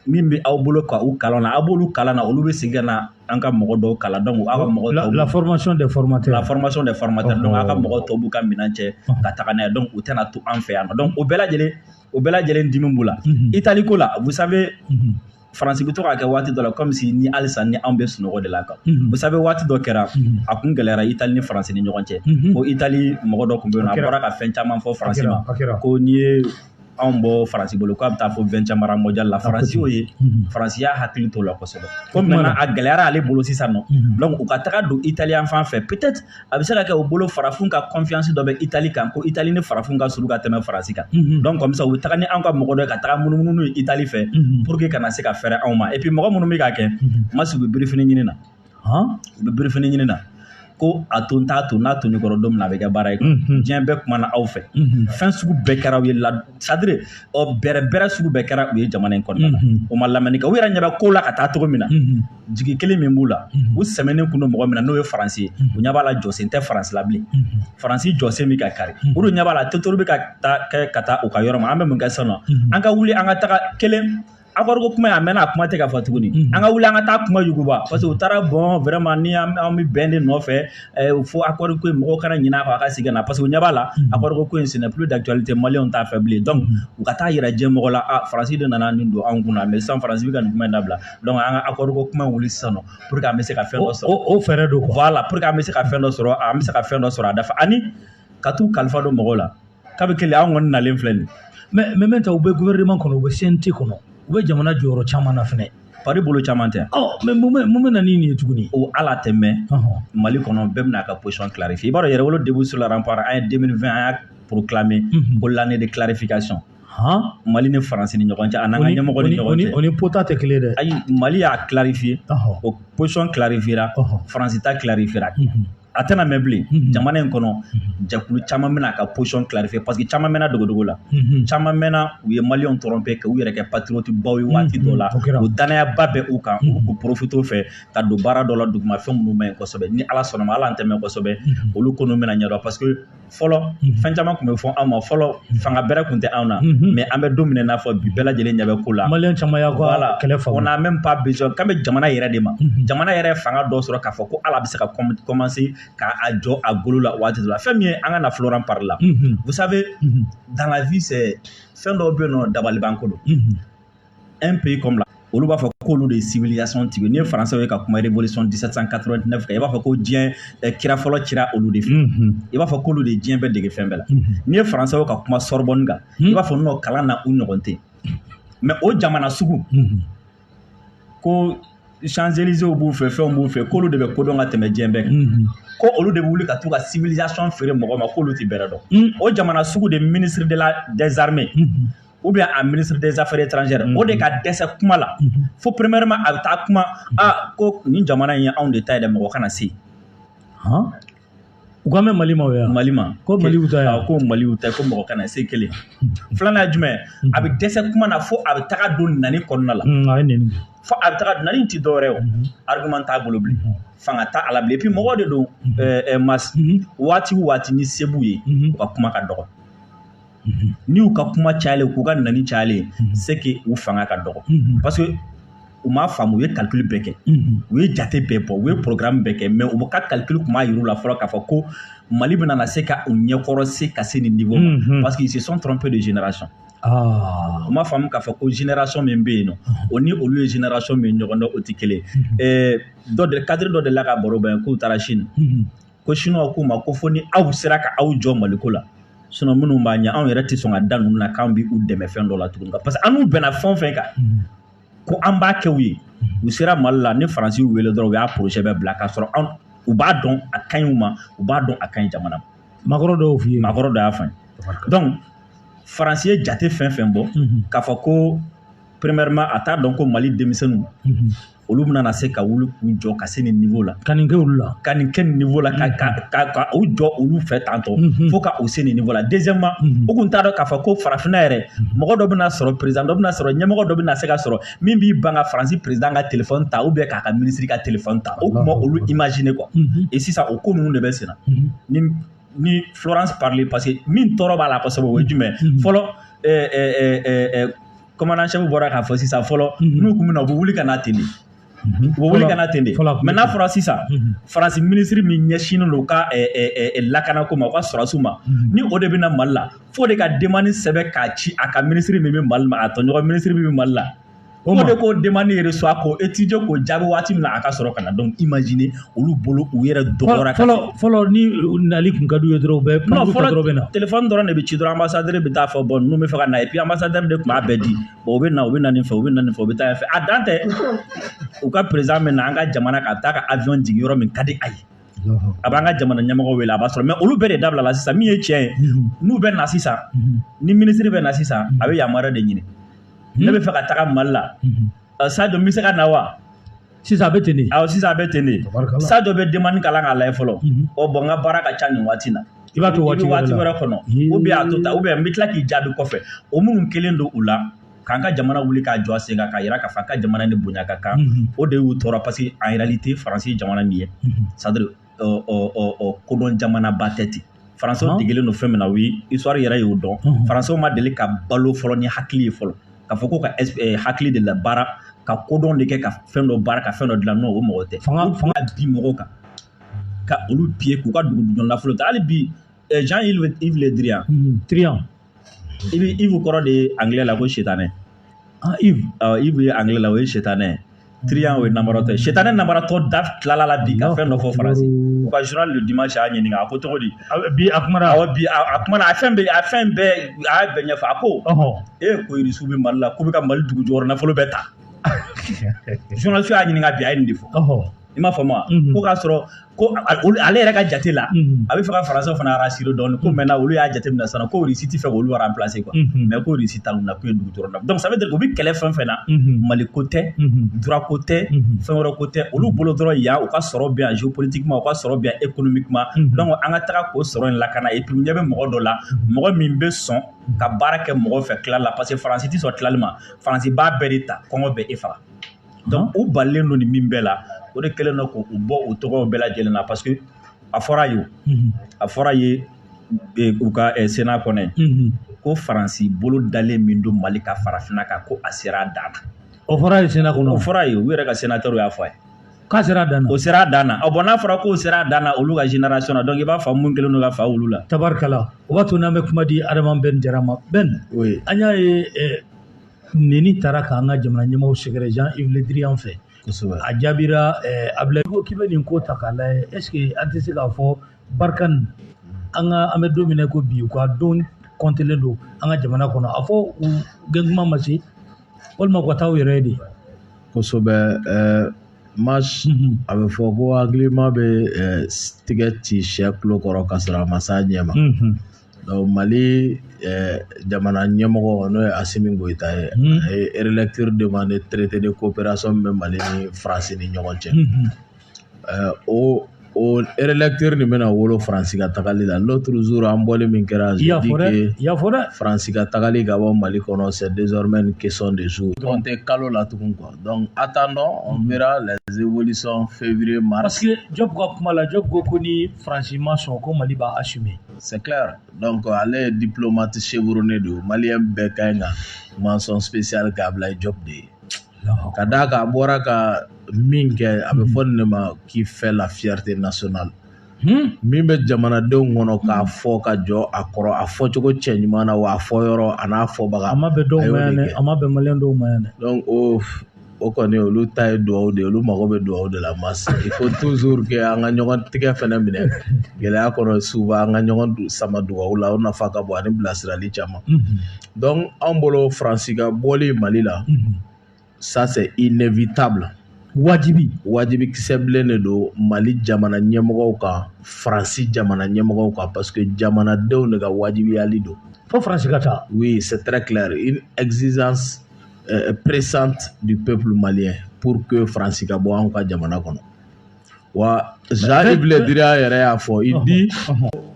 min bɛ aw bolo ka u kalan na aw b'olu kalan na olu bɛ segin ka na an ka mɔgɔ dɔw kalan donc aw ka mɔgɔ tɔw la formation des
formateurs la formation des formateurs
donc aw ka mɔgɔ tɔw b'u ka minɛn cɛ ka taga n'a ye donc u tɛna to an fɛ yan nɔ donc o bɛɛ lajɛlen o bɛɛ lajɛlen dimi b'u la itali ko la vous savez faransi bɛ to k'a kɛ waati dɔ la comme si ni halisa ni anw bɛ sunɔgɔ de la kan vous savez waati dɔ kɛra a kun gɛlɛyara itali ni faransi ni ɲɔgɔn cɛ ko itali mɔgɔ dɔ tun bɛ yen nɔ a bɔra ka fɛn caman fɔ faransi ma ko n'i ye anw bɔ faransi bolo k'a bɛ taa fo vingtième rang mondial la faransi y'o ye faransi y'a hakili to o la kosɛbɛ ko maintenant a gɛlɛyara ale bolo sisan nɔ donc u ka taga don italien fan fɛ peut-être a bɛ se ka kɛ u bolo farafin ka confiance dɔ bɛ itali kan ko itali ni farafin ka surun ka tɛmɛ faransi kan donc comme ça u bɛ taga ni an ka mɔgɔ dɔ ye ka taga munumunu ye itali fɛ pour que kana se ka fɛrɛ anw ma et puis mɔgɔ minnu bɛ ka kɛ ma sigi birifini ɲini na hɔn u bɛ birifini ɲini na ko a to n t'a to n'a to ne kɔrɔ don min na a bɛ kɛ baara ye diɲɛ bɛɛ kumana aw fɛ fɛn sugu bɛɛ kɛra u ye c'est-à-dire bɛrɛbɛrɛ sugu bɛɛ kɛra u ye jamana in kɔnɔna na u ma lamɛnni kɛ u yɛrɛ ɲɛ bɛ ko la ka taa cogo min na jigi kelen min b'u la u sɛmɛnen kun don mɔgɔ min na n'o ye faransi ye u ɲɛ b'a la jɔsen tɛ faransi la bilen faransi jɔsen bɛ ka kari u dun ɲɛ b'a la totori bɛ ka taa kɛ ka taa u ka yɔrɔ ma an bɛ mun kɛ sisan nɔ an ka wuli an ka taga kelen accord ko kuma a mɛnna a kuma tɛ ka fɔ tuguni an ka wuli an ka taa kuma yuguba parce que u taara bon vraiment ni an bɛ bɛn de nɔfɛ fo accord ko mɔgɔw kana ɲinɛ a ka segin na parce que u ɲɛ b'a la accord ko in ce n'est plus d'actualité maliyɛnw t'a fɛ bilen donc u ka taa jira diɲɛ mɔgɔ la faransi de nana nin don anw kun mais sisan faransi bɛ ka nin kuma dabila donc an ka accord ko kuma wuli sisan pour que an bɛ se ka fɛn dɔ sɔrɔ o fɛɛrɛ don voilà
pour que an bɛ se ka fɛn
dɔ sɔrɔ an bɛ se ka fɛn dɔ sɔrɔ a dafa ani ka t'u kalifa don mɔgɔw la k'a bɛɛ kelen an kɔni nalen filɛ nin mais maintenant u
bɛ gouvernement kɔnɔ u bɛ CNT kɔnɔ u bɛ jamana jɔyɔrɔ caman na fɛnɛ pari bolo caman tɛ
ɔ mais mun bɛ mun bɛ na
ni nin ye tuguni o ala tɛ
mɛn mali kɔnɔ bɛɛ bɛna a ka position clarifier i b'a dɔn yɛrɛwolo debout sur les remparts an ye 2020 an y'a proclamer ko l'année de clarification han mali ni faransi ni ɲɔgɔn cɛ a n'an ka ɲɛmɔgɔ ni ɲɔgɔn cɛ o ni pota tɛ kelen dɛ
ayi mali y'a
clarifier o position clarifiera faransi ta clarifiera a tɛna mɛn bilen mhm. jamana in kɔnɔ mhm. jɛkulu caman bɛna a ka position clarifier parce que caman mɛnna dogodogo la mhm. caman mɛnna u ye maliyɛnw tromper ka u yɛrɛ kɛ patriote baw ye waati dɔ la o dannayaba bɛ u kan u ka profiter o fɛ ka don baara dɔ la duguma fɛn minnu man ɲi kosɛbɛ ni ala sɔnna ma ala an tɛ mɛn kosɛbɛ olu ko n'u bɛna ɲɛdɔn parce que fɔlɔ fɛn caman tun bɛ fɔ anw ma fɔlɔ fanga bɛrɛ tun tɛ anw na mais an bɛ don min n'a fɔ bi bɛɛ lajɛlen ɲɛ bɛ ko la maliyɛn caman y'a la
kɛlɛ faamu on n'a même pas besoin
k'an bɛ jamana yɛrɛ de ma jamana yɛrɛ fanga dɔ sɔrɔ k'a fɔ ko ala bɛ se ka commencer k'a jɔ a golo la waati la fɛn min ye an ka na florence parly la vous savez dans la vie c'est fɛn dɔw bɛ yen nɔ dabalibanko don un pays comme la olu b'a fɔ k'olu de ye civilisation tigi n'i ye faransɛw ye ka kuma révolution 1789 kan i b'a fɔ ko diɲɛ eh, kira fɔlɔ cira olu de fɛ mhm. i b'a fɔ k'olu de diɲɛ bɛɛ dege fɛn bɛɛ la mhm. n'i ye faransɛw ka kuma sorbonne kan i mhm. b'a fɔ nɔ kalan na u ɲɔgɔn tɛ mais o jamana sugu ko champs-élysées b'u fɛ fɛnw b'u fɛ k'olu de bɛ kodɔn ka tɛmɛ diɲɛ bɛɛ kan ko olu de bɛ wuli ka t'u ka civilisation feere mɔgɔ ma k'olu tɛ bɛrɛ dɔn o jamana sugu de ministre de la des armées ou bien a ministre des affaires étrangères o de ka dɛsɛ kuma la fo premièrement a bɛ taa kuma aa ko nin jamana in ye anw de ta ye dɛ mɔgɔ kana se
u an bɛ mali ma yan mali ma ko mali ta
ko
mali ta ko mɔgɔ
kana se kelen filanan ye jumɛn a bɛ dɛsɛ kuma na fo a bɛ taga don nani kɔnɔna la fo a bɛ taga nani tɛ dɔwɛrɛ o argument t'a bolo bilen fanga t'a la bilen et puis mɔgɔw de don waati o waati ni se b'u ye u ka kuma ka dɔgɔ ni u ka kuma cayalen k'u ka nani cayalen c'est que u fanga ka dɔgɔ parce que u m'a faamu u ye calcul bɛɛ kɛ u ye jate bɛɛ bɔ u ye programme bɛɛ kɛ mais u ka calcul kun m'a yir'u la fɔlɔ k'a fɔ ko mali bɛna na se ka u ɲɛkɔrɔ se ka se nin niveau ma parce que ils se sont trompés de génération u m'a faamu k'a fɔ ko génération min bɛ yen nɔ o ni olu ye génération min ɲɔgɔn dɔn o tɛ kelen ye dɔ de cadre dɔ de la ka baro bɛn k'u taara chine ko sinuwa k'u ma ko fo ni aw sera ka aw jɔ maliko la sinon minnu b'a ɲɛ anw yɛrɛ tɛ sɔn ka da ninnu na k'an bɛ u dɛmɛ fɛn dɔ la tuguni kan parce que an n'u bɛnna fɛn fɛn kan ko an b'a kɛ u ye u sera mali la ni faransi y'u wele dɔrɔn u y'a projet bɛɛ bila k'a sɔrɔ u b'a dɔn a ka ɲi u ma u b'a dɔn a ka ɲi jamana ma makɔrɔ dɔw f'i ye
makɔrɔ dɔ y'a fɔ
donc faransi ye jate fɛn fɛn bɔ k'a fɔ ko premièrement a t'a dɔn ko mali denmisɛnninw olu bɛna na se ka wuli k'u jɔ ka se nin niveau la ka nin kɛ olu la ka
nin kɛ nin niveau la
ka ka ka ka u jɔ olu fɛ tantɔ mhm. fo ka u se nin niveau la deuxièmement mhm. u kun t'a dɔn k'a fɔ ko farafinna yɛrɛ mhm. mɔgɔ dɔ bɛna sɔrɔ président dɔ bɛna sɔrɔ ɲɛmɔgɔ dɔ bɛna se ka sɔrɔ min b'i ban ka faransi président ka téléphone ta ou bien k'a ka ministre ka téléphone ta o kuma olu imaginer quoi et sisan o ko ninnu de bɛ senna ni ni Florence Parly parce que min tɔɔrɔ b'a la kosɛbɛ o ye jumɛn fɔlɔ commandant chef bɔra k'a fɔ sisan fɔlɔ mhm. n'u kun bɛ na u bɛ wuli ka na ten de mhm. u bɛ wuli ka na ten de mais n'a fɔra sisan mhm. faransi minisiri min ɲɛsinnen don u ka lakanako ma u ka sɔrɔdasiw ma ni o de bɛ na mali la fo o de ka demande sɛbɛn k'a ci a ka minisiri min bɛ mali ma a tɔɲɔgɔn minisiri min bɛ mali la fo o de k'o demande reçoit k'o étudier k'o jaabi waati min na a ka sɔrɔ ka na donc imaginer olu bolo u yɛrɛ dɔgɔyara ka fɔlɔ fɔlɔ
ni nali kun ka d'u ye dɔrɔn u bɛ kuma fɔlɔ dɔrɔn bɛ na telefɔni dɔrɔn de bɛ ci
dɔrɔn ambassadeur bɛ taa a fɔ bɔn ninnu bɛ fɛ ka na et puis ambassadeur de tun b'a bɛɛ di bɔn u bɛ na u bɛ na nin fɛ u bɛ na nin fɛ u bɛ taa yan fɛ a dan tɛ u ka président bɛ na an ka jamana ka taa ka avion jigin yɔrɔ min ka di a ye a b'an ka jamana ɲɛmɔgɔ wele a b'a sɔrɔ mais olu bɛɛ de dabilala sisan min ye tiɲɛ ye n'u bɛ na sisan ni minisiri bɛ na sisan a bɛ yamaruya de ɲini ne bɛ fɛ ka taga mali la Sadio n bɛ se ka na wa
sisan a bɛ ten de awɔ sisan a bɛ ten
de Sadio bɛ
demande
kalan k'a lajɛ fɔlɔ ɔ bɔn n ka baara ka ca nin waati na i b'a to waati
wɛrɛ kɔnɔ
ou bien a to tan ou bien n bɛ tila k'i jaabi kɔfɛ o minnu kɛlen don u la k'an ka jamana wuli k'a jɔ a sen kan k'a yira k'a fɔ an ka jamana ni bonya ka kan o de y'u tɔɔrɔ parce que en réalité faransi ye jamana min ye c'est-à-dire ɔ kodɔn jamanaba tɛ ten faransɛw degelen don fɛn min na o ye histoire yɛrɛ y'o dɔn faransɛw ma deli ka balo fɔlɔ ni hakili ye fɔlɔ k'a fɔ ko ka hakili de la baara ka kodɔn de kɛ ka fɛn dɔ baara ka fɛn dɔ dilan non o mɔgɔ tɛ fanga fanga digi mɔgɔw kan ka olu piller k'u ka dugu jukɔrɔ nafolo ta hali bi Jean-Yves Le Drian Yves kɔrɔ de ye angilɛ la ko sitanɛ Yves ye angilɛ la o ye sitanɛ Drian o ye nabaratɔ ye sitanɛ nabaratɔ da tilala la bi ka fɛn dɔ fɔ faransi u ka Journal du Dimanche y'a ɲininka a ko cogo di bi a
kuma bi a kuma a
fɛn bɛ a fɛn bɛɛ a y'a bɛɛ ɲɛfɔ a ko e ko irisiw bɛ mali la k'u bɛ ka mali dugu jukɔrɔ nafolo bɛɛ ta journaliste y'a ɲininka bi a ye nin de fɔ i m'a faamu wa ko k'a sɔrɔ ko ale yɛrɛ ka jate la a bɛ fɛ ka faransɛw fana rassurer dɔɔnin ko maintenant olu y'a jate minɛ sisan ko Russie tɛ fɛ k'olu remplacer quoi mais ko Russie ta na ko ye dugu dɔrɔn na donc ça veut dire u bɛ kɛlɛ fɛn fɛn na mali ko tɛ droit ko tɛ fɛn wɛrɛ ko tɛ olu bolo dɔrɔn yan u ka sɔrɔ bɛ yan géopolitiquement u ka sɔrɔ bɛ yan économiquement donc an ka taga k'o sɔrɔ in lakana et puis u ɲɛ bɛ mɔgɔ dɔ la mɔgɔ min bɛ sɔn ka baara kɛ mɔgɔ fɛ tila la parce que faransi tɛ sɔn tilali ma faransi b'a bɛɛ de ta kɔngɔ bɛ e faga donc u balilen don nin min bɛɛ la o de kɛlen don k'u bɔ u tɔgɔw bɛɛ lajɛlen na parce que a fɔra ye a fɔra ye u ka Sénat kɔnɔ ko faransi bolo dalen min don mali kan farafinna kan ko a sera a dan na o fɔra ye
Sénat kɔnɔ o fɔra ye u yɛrɛ ka
sénateurs y'a fɔ a ye k'a sera a dan
na o sera a dan na bon
n'a fɔra k'o sera a dan na olu ka génération na donc i b'a fɔ mun kɛlen don ka fa olu la tabarikala o b'a to
n'an bɛ kuma di Adama Ben Jara ma Ben an y'a ye Neni taara k'an ka jamana ɲɛmaaw sɛgɛrɛ Jean Yves Le Drian fɛ, kosɛbɛ, a jaabira Ablaye ko k'i bɛ nin ko ta k'a lajɛ est ce que an tɛ se k'a fɔ Barkhane an ka an bɛ don min na i ko bi u ka don compter len don an ka jamana kɔnɔ a fɔ u gɛntuma ma se walima u ka taa u yɛrɛ ye de,
kosɛbɛ ɛɛ Mas a bɛ fɔ ko hakilima bɛ tigɛ ci sɛ tulo kɔrɔ ka sɔrɔ a ma s'a ɲɛ ma mali jamana ɲɛmɔgɔ n'o ye asimi goyita ye a yelɛtiri de ma ne terite de ko pɛrɛnson bɛ mali ni faransi ni ɲɔgɔn cɛ o olɛtiri nin bɛna wolo faransi ka tagali la n'o tuuru an bɔlen min kɛra
yafafɔ faransi ka tagali ka
bɔ mali kɔnɔ sɛ deɔrɔmɛ ni kec de so dɔrɔn tɛ kalo la tugun kɔ dɔn a taa dɔn mi lajɛzeolisɔn fɛnfur masi jɔ ka kuma
la jɔ ko ko ni faransi ma sɔn ko mali b' a su C'est
clair. Donc, ale ye diplomate chevronné de ye maliyɛn bɛɛ ka ɲi ka mention spéciale kɛ Ablaye Diop de ye ka d'a kan a bɔra ka min kɛ a bɛ fɔ nin de ma qui fait la fierté nationale hmm? min bɛ jamanadenw kɔnɔ k'a hmm. fɔ ka jɔ a kɔrɔ a fɔcogo cɛ ɲuman na wa a fɔ yɔrɔ a n'a fɔbaga a ma bɛn dɔw ma yan dɛ
a ma bɛn maliyɛn dɔw ma yan dɛ donc o
o kɔni olu ta ye dugawu de ye olu mago bɛ dugawu de la Mas il faut toujours que an ka ɲɔgɔn tigɛ fɛnɛ minɛ gɛlɛya kɔnɔ souvent an ka ɲɔgɔn sama dugawu la o nafa ka bon ani bilasirali caman donc anw bolo faransi ka bɔli mali la ça c'est inévitable wajibi wajibi kisɛ bilen de don mali jamana ɲɛmɔgɔw kan faransi jamana ɲɛmɔgɔw kan parce que jamanadenw de ka wajibiyali don fo faransi ka taa
oui c'est très
clair euh, pressante du peuple malien pour que Faransi ka bɔ anw ka jamana kɔnɔ wa Jean Yves Le Drian yɛrɛ y'a fɔ il dit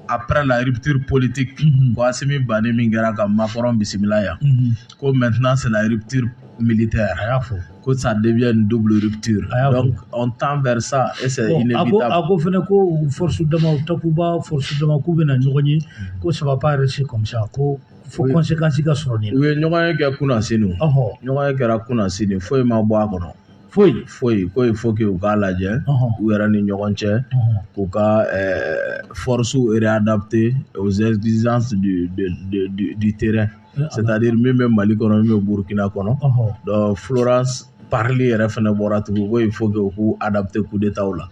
après la rupture politique ko Asimi bannen min kɛra ka Macron bisimila yan ko maintenant c'est la rupture militaire a y'a fɔ ko ça devient une double rupture A y'a fɔ. donc on tend vers ça et c'est Bon, a ko inévitable a ko fɛnɛ ko
force dama takuba force dama k'u bɛna ɲɔgɔn ye ko ça va pas rester comme ça ko fo kɔnsekansi ka sɔrɔ nin na u ye ɲɔgɔn ye kɛ kunna
sini ɲɔgɔn ye kɛra kunna sini foyi ma bɔ a kɔnɔ foyi foyi ko ye fo u k'a lajɛ u yɛrɛ ni ɲɔgɔn cɛ k'u ka fɔrisiw eredabute ozɛrizansi di tɛrɛ sari min bɛ mali kɔnɔ min bɛ burukina kɔnɔ furasi parili yɛrɛ fana bɔra tugun ko ye fo u k'u dabute kudtaw la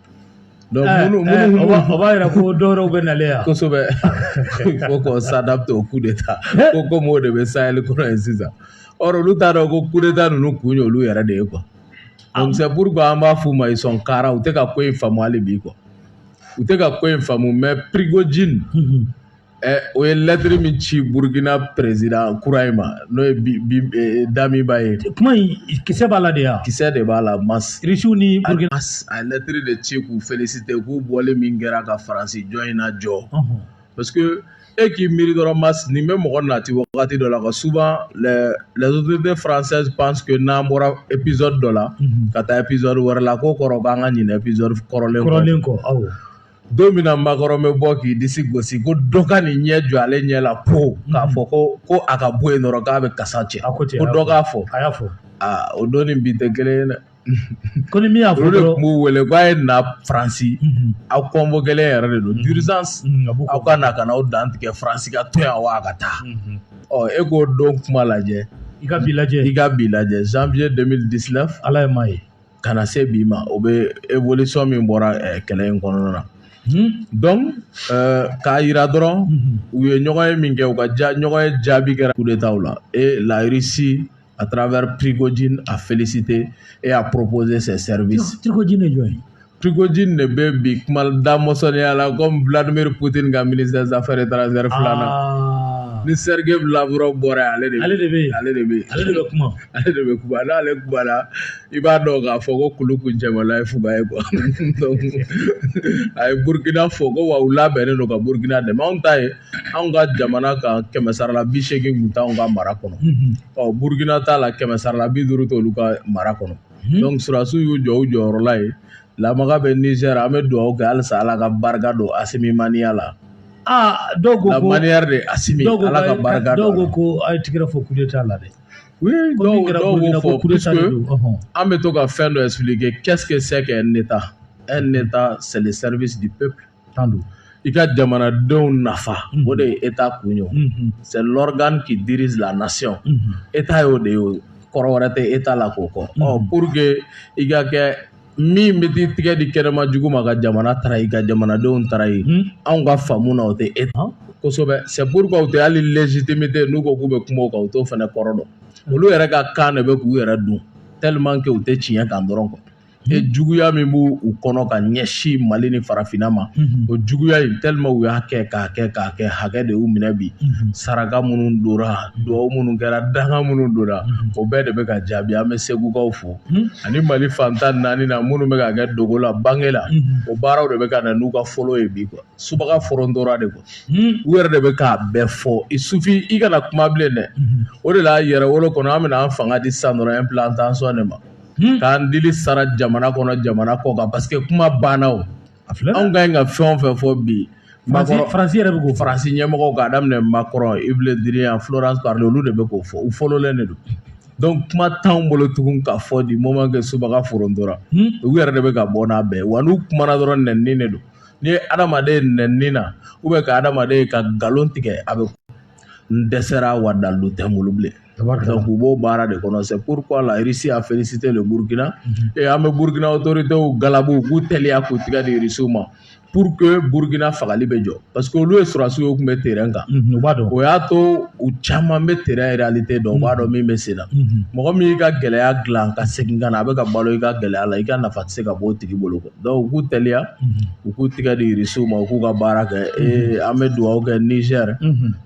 o b'a yira
ko dɔw bɛ nalen yan
kosɛbɛ ko qu'on s'adapte au coup d'état ko comme o de bɛ sahel kɔnɔ yen sisan or olu t'a dɔn ko coup d'état ninnu kun ye olu yɛrɛ de ye quoi donc c'est pourquoi an b'a f'u ma ils sont carents u tɛ ka ko in faamu hali bi quoi u tɛ ka ko in faamu mais Prigojine o ye lettre min ci burukina président kura in ma n'o ye Damiba ye kuma in
kisɛ b'a la de yan kisɛ de b'a la
mas irisiw ni
a lettre de
ci k'u féliciter k'u bɔlen min kɛra ka faransi jɔn in na jɔ parce que e k'i miiri dɔrɔn mas nin bɛ mɔgɔ nati wagati dɔ la ka souvent les autorités françaises pensent que n'an bɔra épisode dɔ la ka taa épisode wɛrɛ la k'o kɔrɔ k'an ka ɲina épisode kɔrɔlen kɔ aw
don min
na Macron bɛ bɔ k'i disi gosi ko dɔ ka n'i ɲɛ jɔ ale ɲɛ la po k'a fɔ ko ko a ka bɔ yen dɔrɔn k'a bɛ kasa cɛ a ko cɛ ko dɔ k'a fɔ a y'a fɔ aa
o don ni bi
tɛ kelen ye dɛ ko ni min
y'a fɔ olu de dɔrɔn tun b'u wele k'a
ye na faransi Mhm. aw convoquélen yɛrɛ de don d'urgence Mhm, a b'u aw ka na ka na aw dantigɛ faransi ka to yan wa a ka taa Mhm. ɔ e k'o don kuma lajɛ i ka bi lajɛ
i ka bi lajɛ janvier 2019
ala ye maa ye
ka na se bi ma
o bɛ eolisɔn min bɔra kɛlɛ in kɔnɔna na k'a jira dɔrɔn u ye ɲɔgɔn ye min kɛ u ka ja ɲɔgɔn ye jaabi kɛra u de t' u la e layirisi a taara wɛrɛ pkoji a felisite e y'a ppoze sɛri cogoji de jɔn
pkoji de bɛ
bi kuma da mɔsɔnɔnya la ko biladameri pote ka mini zansaɛrɛ taara zri fila na ni serikɛ bilaura bɔra ale ale ale ale de bɛ kuma ale de bɛ ale ale la i b'a dɔn k'a fɔ ko kulu kun cɛmala ye fuga ye quoi a ye burukina fo ko wa u labɛnnen don ka burukina dɛmɛ anw ta ye anw ka jamana ka kɛmɛ sara la bi seegin kun t'anw ka mara kɔnɔ ɔ burukina ta la kɛmɛ sara la bi duuru t'olu ka mara kɔnɔ donc surasiw y'u jɔ u jɔyɔrɔ la ye lamaga bɛ nizɛri an bɛ dugawu kɛ halisa ala ka barika don asimi maniya la aa dɔw ko
ko la manière de asimi
dɔw ko ala ka barika dɔw don ko ko a ye tigɛrɛ fɔ
kule t'a la dɛ
an bɛ to ka fɛn dɔ fili kɛ kɛssɛ sɛ ne taa e ne taa sɛsɛri bɛ sigi pep tan don i ka jamanadenw nafa o de ye e ta kun ye sɛ lɔrɔd k'i di la nasi e t' ye o de ye kɔrɔ wɛrɛ tɛ e t'a la k'o kɔ ɔ pur que i ka kɛ min bɛ t'i tigɛ di kɛnɛma jugu ma ka jamana trahir ka jamanadenw trahir anw ka faamu na o tɛ État kosɛbɛ c'est pourquoi u tɛ hali légitimité n'u ko k'u bɛ kuma kan u t'o fana kɔrɔ dɔn olu yɛrɛ ka kan de bɛ k'u yɛrɛ dun tellement que u tɛ tiɲɛ kan dɔrɔn quoi et juguya min b'u kɔnɔ ka ɲɛsin mali ni farafinna ma o juguya in tellement u y'a kɛ k'a kɛ k'a kɛ hakɛ de y'u minɛ bi saraka minnu donna dugawu minnu kɛra danga minnu donna o bɛɛ de bɛ ka jaabi an bɛ segukaw fo ani mali fan tan naani na minnu bɛ ka kɛ dogo la bange la o baaraw de bɛ ka na n'u ka fɔlɔ ye bi quoi subaga forontora de quoi u yɛrɛ de bɛ k'a bɛɛ fɔ il suffit i kana kuma bilen dɛ o de la Yɛrɛwolo kɔnɔ an bɛna an fanga di sisan dɔrɔn implantation de ma k'an dili sara jamana kɔnɔ jamana kɔkan parce que kuma banna o a filɛ anw ka ɲi ka fɛn o fɛn fɔ bi faransi yɛrɛ
bɛ k'o fɔ faransi ɲɛmɔgɔw k'a
daminɛ Macron Yves Le Drian Florence Parly olu de bɛ k'o fɔ u fɔlɔlen de don donc kuma t'anw bolo tugun k'a fɔ du moment que subaga forontora u yɛrɛ de bɛ ka bɔ n'a bɛɛ wa n'u kumana dɔrɔn nɛnini de don n'i ye adamaden ye nɛnini na u bɛ ka adamaden ye ka nkalon tigɛ a bɛ n dɛsɛra wa dalu tɛ n bolo bilen Donc u b'o baara de kɔnɔ c'est pourquoi la Russie a félicité le Burkina et an bɛ Burkina autorités galabu u k'u teliya k'u tigɛ di Russie ma pour que Burkina fagali bɛ jɔ parce que olu ye sɔrɔdasiw ye u tun bɛ terrain kan o y'a to u caman bɛ terrain réalité dɔn u b'a dɔn min bɛ sen na mɔgɔ min y'i ka gɛlɛya dilan ka segin ka na a bɛ ka balo i ka gɛlɛya la i ka nafa tɛ se ka bɔ o tigi bolo quoi donc u k'u teliya u k'u tɛgɛ di irisiw ma u k'u ka baara kɛ ee an bɛ dugawu kɛ nizɛri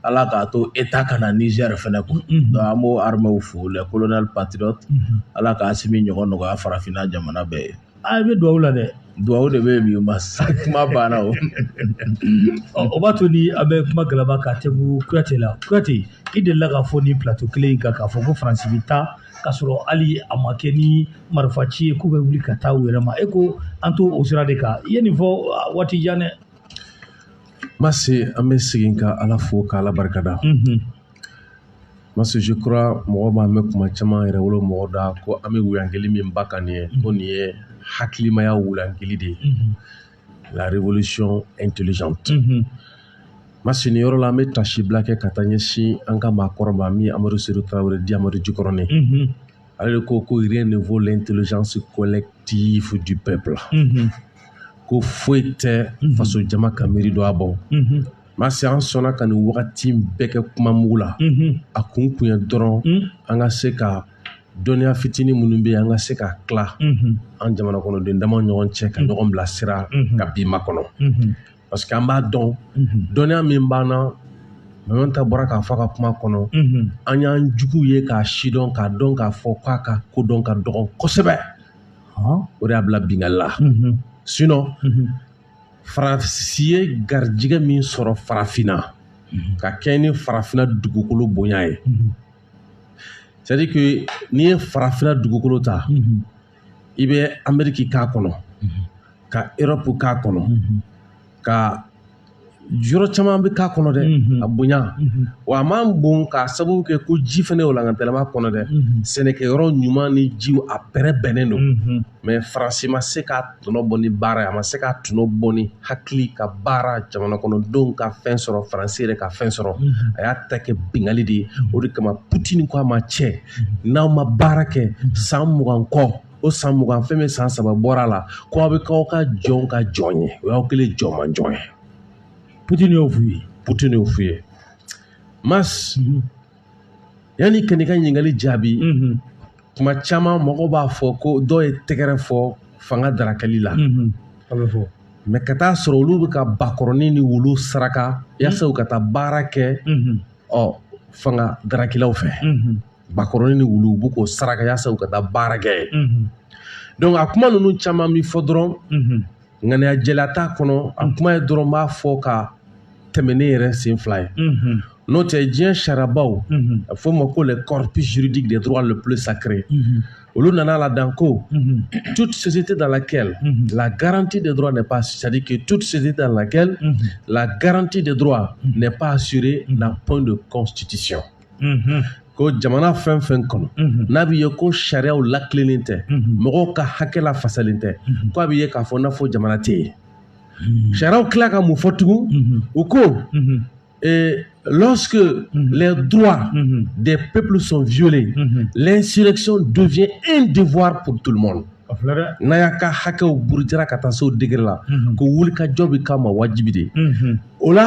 ala k'a to État ka na nizɛri fana kun donc an b'o armɛw fo les colonels patriotes ala ka Assimi ɲɔgɔn nɔgɔya farafinna jamana bɛɛ ye a bɛ dugawu la
dɛ dugawu de bɛ
bi ma sa kuma banna
o o b'a to ni an bɛ kuma galaba ka tɛmɛ kuyate la kuyate i delila k'a fɔ nin plateau kelen in kan k'a fɔ ko faransi bɛ taa k'a sɔrɔ hali a ma kɛ ni marifa ci ye k'u bɛ wuli ka taa u yɛrɛ ma e ko an to o sira de kan i ye nin fɔ ah, waati jan dɛ
Masi an bɛ segin ka ala fo ka ala barikada Mhm. Masi je crois mɔgɔ b'a mɛn kuma caman Yɛrɛwolo mɔgɔ da ko an bɛ wuyangeli min ba kan nin ye ko nin ye hakilimaya wuyangeli de ye Mhm. la révolution intelligente mm-hmm. masi nin yɔrɔ la an bɛ tasibila kɛ ka taa ɲɛsin an ka maakɔrɔ ma min ye amadu sedu tarawele dit amadu jikɔrɔni mm-hmm. ale de ko ko rien ne vaut l'intelligence collective du peuple mm-hmm. ko foyi tɛ faso jama ka miiri don a bɔ masi an sɔnna ka nin wagati bɛɛ kɛ kuma mugu la a kun kun ye dɔrɔn an ka se ka dɔnniya fitinin minnu bɛ yen an ka se ka tila an jamana kɔnɔden dama ɲɔgɔn cɛ ka ɲɔgɔn bilasira ka bi makɔnɔ parce que an b'a dɔn dɔnniya min b'an na Mɛmɛn ta bɔra k'a fɔ a ka kuma kɔnɔ an y'an jugu ye k'a sidɔn k'a dɔn k'a fɔ k'a ka kodɔn ka dɔgɔn kosɛbɛ o de y'a bila bingali la sinon faransi ye garijɛgɛ min sɔrɔ farafinna ka kɛɲɛ ni farafinna dugukolo bonya ye c'est à dire que n'i ye farafinna dugukolo ta i bɛ ameriki k'a kɔnɔ ka europe k'a kɔnɔ ka yɔrɔ caman bɛ k'a kɔnɔ dɛ a bonya wa a man bon k'a sababu kɛ ko ji fana walankatalen b'a kɔnɔ dɛ sɛnɛkɛyɔrɔ ɲuman ni jiw a bɛrɛbɛnnen don mais faransi ma se ka tɔnɔ bɔ ni baara ye a ma se k'a tɔnɔ bɔ ni hakili ka baara jamana kɔnɔdenw ka fɛn sɔrɔ faransi yɛrɛ ka fɛn sɔrɔ mhm. a y'a ta kɛ bingali de ye mhm. o de kama putini ko a ma cɛ mhm. n'aw ma baara kɛ san mugan kɔ o san mugan fɛn min san saba bɔra a la ko aw bɛ k'aw ka jɔnw ka jɔn ye o y'aw kɛlen jɔnmanjɔn ye
putini y'o f'u ye putini y'o f'u ye
mas yanni ka n'i ka ɲininkali jaabi kuma caman mɔgɔ b'a fɔ ko dɔw ye tɛgɛrɛ fɔ fanga darakali la a bɛ fɔ
mais ka taa sɔrɔ
olu bɛ ka bakɔrɔnin ni wulu saraka yasa u ka taa baara kɛ ɔ fanga darakilaw fɛ bakɔrɔnin ni wulu u b'u k'o saraka yasa u ka taa baara kɛ donc a kuma ninnu caman bɛ fɔ dɔrɔn ŋaniya jɛlen t'a kɔnɔ a kuma ye dɔrɔn b'a fɔ ka tɛmɛ n'i yɛrɛ sen fila ye n'o tɛ diɲɛ sariyabaw a fɔ ma ko le corpus juridique des droits le plus sacré olu nana la dan ko toute société dans laquelle la garantie des droits n'est pas c'est-à-dire que toute société dans laquelle la garantie des droits n'est pas assurée n'a point de constitution ko jamana fɛn fɛn kɔnɔ n'a bɛ ye ko sariyaw latilennen tɛ mɔgɔw ka hakɛ lafasalen tɛ ko a bɛ ye k'a fɔ n'a fɔ jamana tɛ yen sariyaw tila ka mun fɔ tugun u ko lorsque mm -hmm. les droits mm -hmm. des peuples sont violés, mm -hmm. l'insurrection devient un devoir pour tout le monde. n'a y'a ka hakɛw burujara ka taa se o degré la ko wulikajɔ bɛ k'a ma wajibi de o la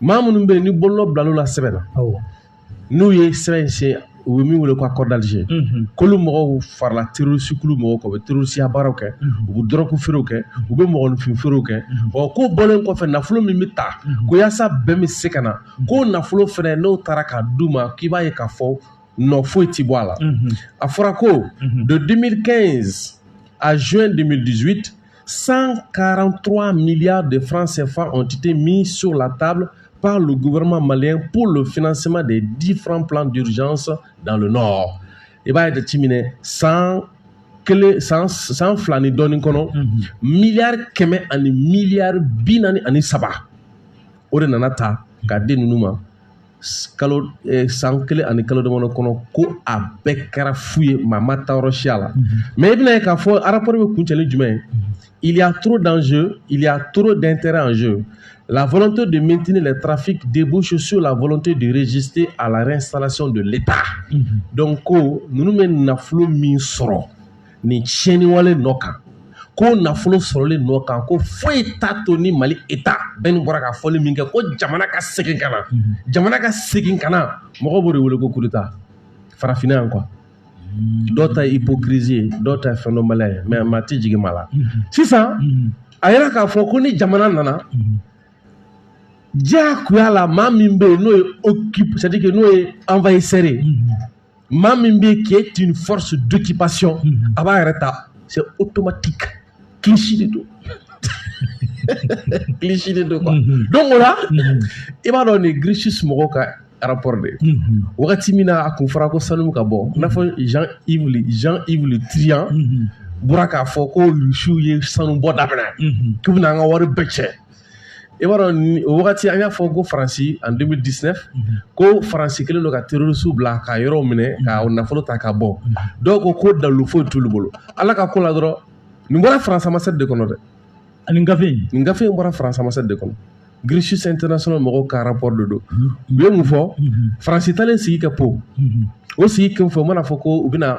maa minnu bɛ yen ni bolonɔ bilal'u la sɛbɛn na awɔ n'u ye sɛbɛn in siɲe u bɛ min wele ko accord d'Alger Mhm. k'olu mɔgɔw farala terorisi kulu mɔgɔw kan u bɛ terorisiya baaraw kɛ u bɛ dɔrɔgu feerew kɛ u bɛ mɔgɔninfin feerew kɛ ɔ k'o bɔlen kɔfɛ nafolo min bɛ ta ko yaasa bɛn bɛ se ka na k'o nafolo fɛnɛ n'o taara k'a d'u ma k'i b'a ye k'a fɔ nɔ foyi ti bɔ a la Mhm. a fɔra ko de 2015 à juin 2018 143 milliards de francs CFA ont été mis sur la table par le gouvernement malien pour le financement des différents plans d'urgence dans le nord. I b'a ye, de Timine, san kelen san san fila ni dɔɔnin kɔnɔ mhm. miliyari kɛmɛ ani miliyari bi naani ani saba o de nana ta ka di ninnu ma kalo eh, san kelen ani kalo damadɔ kɔnɔ ko a bɛɛ kɛra fu ye maa ma taa yɔrɔ si a la mais i bɛn'a ye k'a fɔ rapport bɛ kuncɛ ni jumɛn ye il y a trop d'enjeux il y a trop d'intérêts en jeu la volonté de maintenir les trafics débouche sur la volonté de résister à la réinstallation de l'état donc ko ninnu bɛ nafolo min sɔrɔ nin tiɲɛniwale nɔ kan ko nafolo sɔrɔli nɔ kan ko foyi t'a to ni mali État bɛn i bɔra ka fɔli min kɛ ko jamana ka segin ka na mhm. jamana ka segin ka na mɔgɔ b'o de wele ko kuruta farafinna yan quoi mhm. dɔw ta ye hypocrisie ye dɔw ta ye fɛn dɔnbaliya ye mais maa tɛ jigin maa la mhm. sisan a yera k'a fɔ ko ni jamana nana diyagoya la maa min bɛ yen n'o ye occupé c'est à dire que n'o ye envahisseur ye maa min bɛ qui est une force d'occupation mhm. a b'a yɛrɛ ta c'est automatique cliché de don cliché de don quoi mhm. donc o la mhm. i b'a dɔn nin Crisis mɔgɔw ka rapport de ye wagati min na a kun fɔra ko sanu ka bɔ i n'a fɔ Jean Yves Jean Yves Le Drian bɔra k'a fɔ ko rusiw ye sanu bɔ daminɛ k'u bɛna an ka wari bɛɛ cɛ i b'a dɔn o wagati an y'a fɔ ko faransi en 2019 ko faransi kelen don ka terorisi bila ka yɔrɔ minɛ ka nafolo ta ka bɔ dɔw ko ko dalu foyi t'olu bolo ala ka ko la dɔrɔn nin bɔra faransi ambassade de kɔnɔ dɛ nin
gafe nin gafe in bɔra faransi ambassade
de kɔnɔ Crisis International mɔgɔw ka rapport de don u ye mun fɔ faransi talen sigi ka po o sigi kun fɔ u mana fɔ ko u bɛna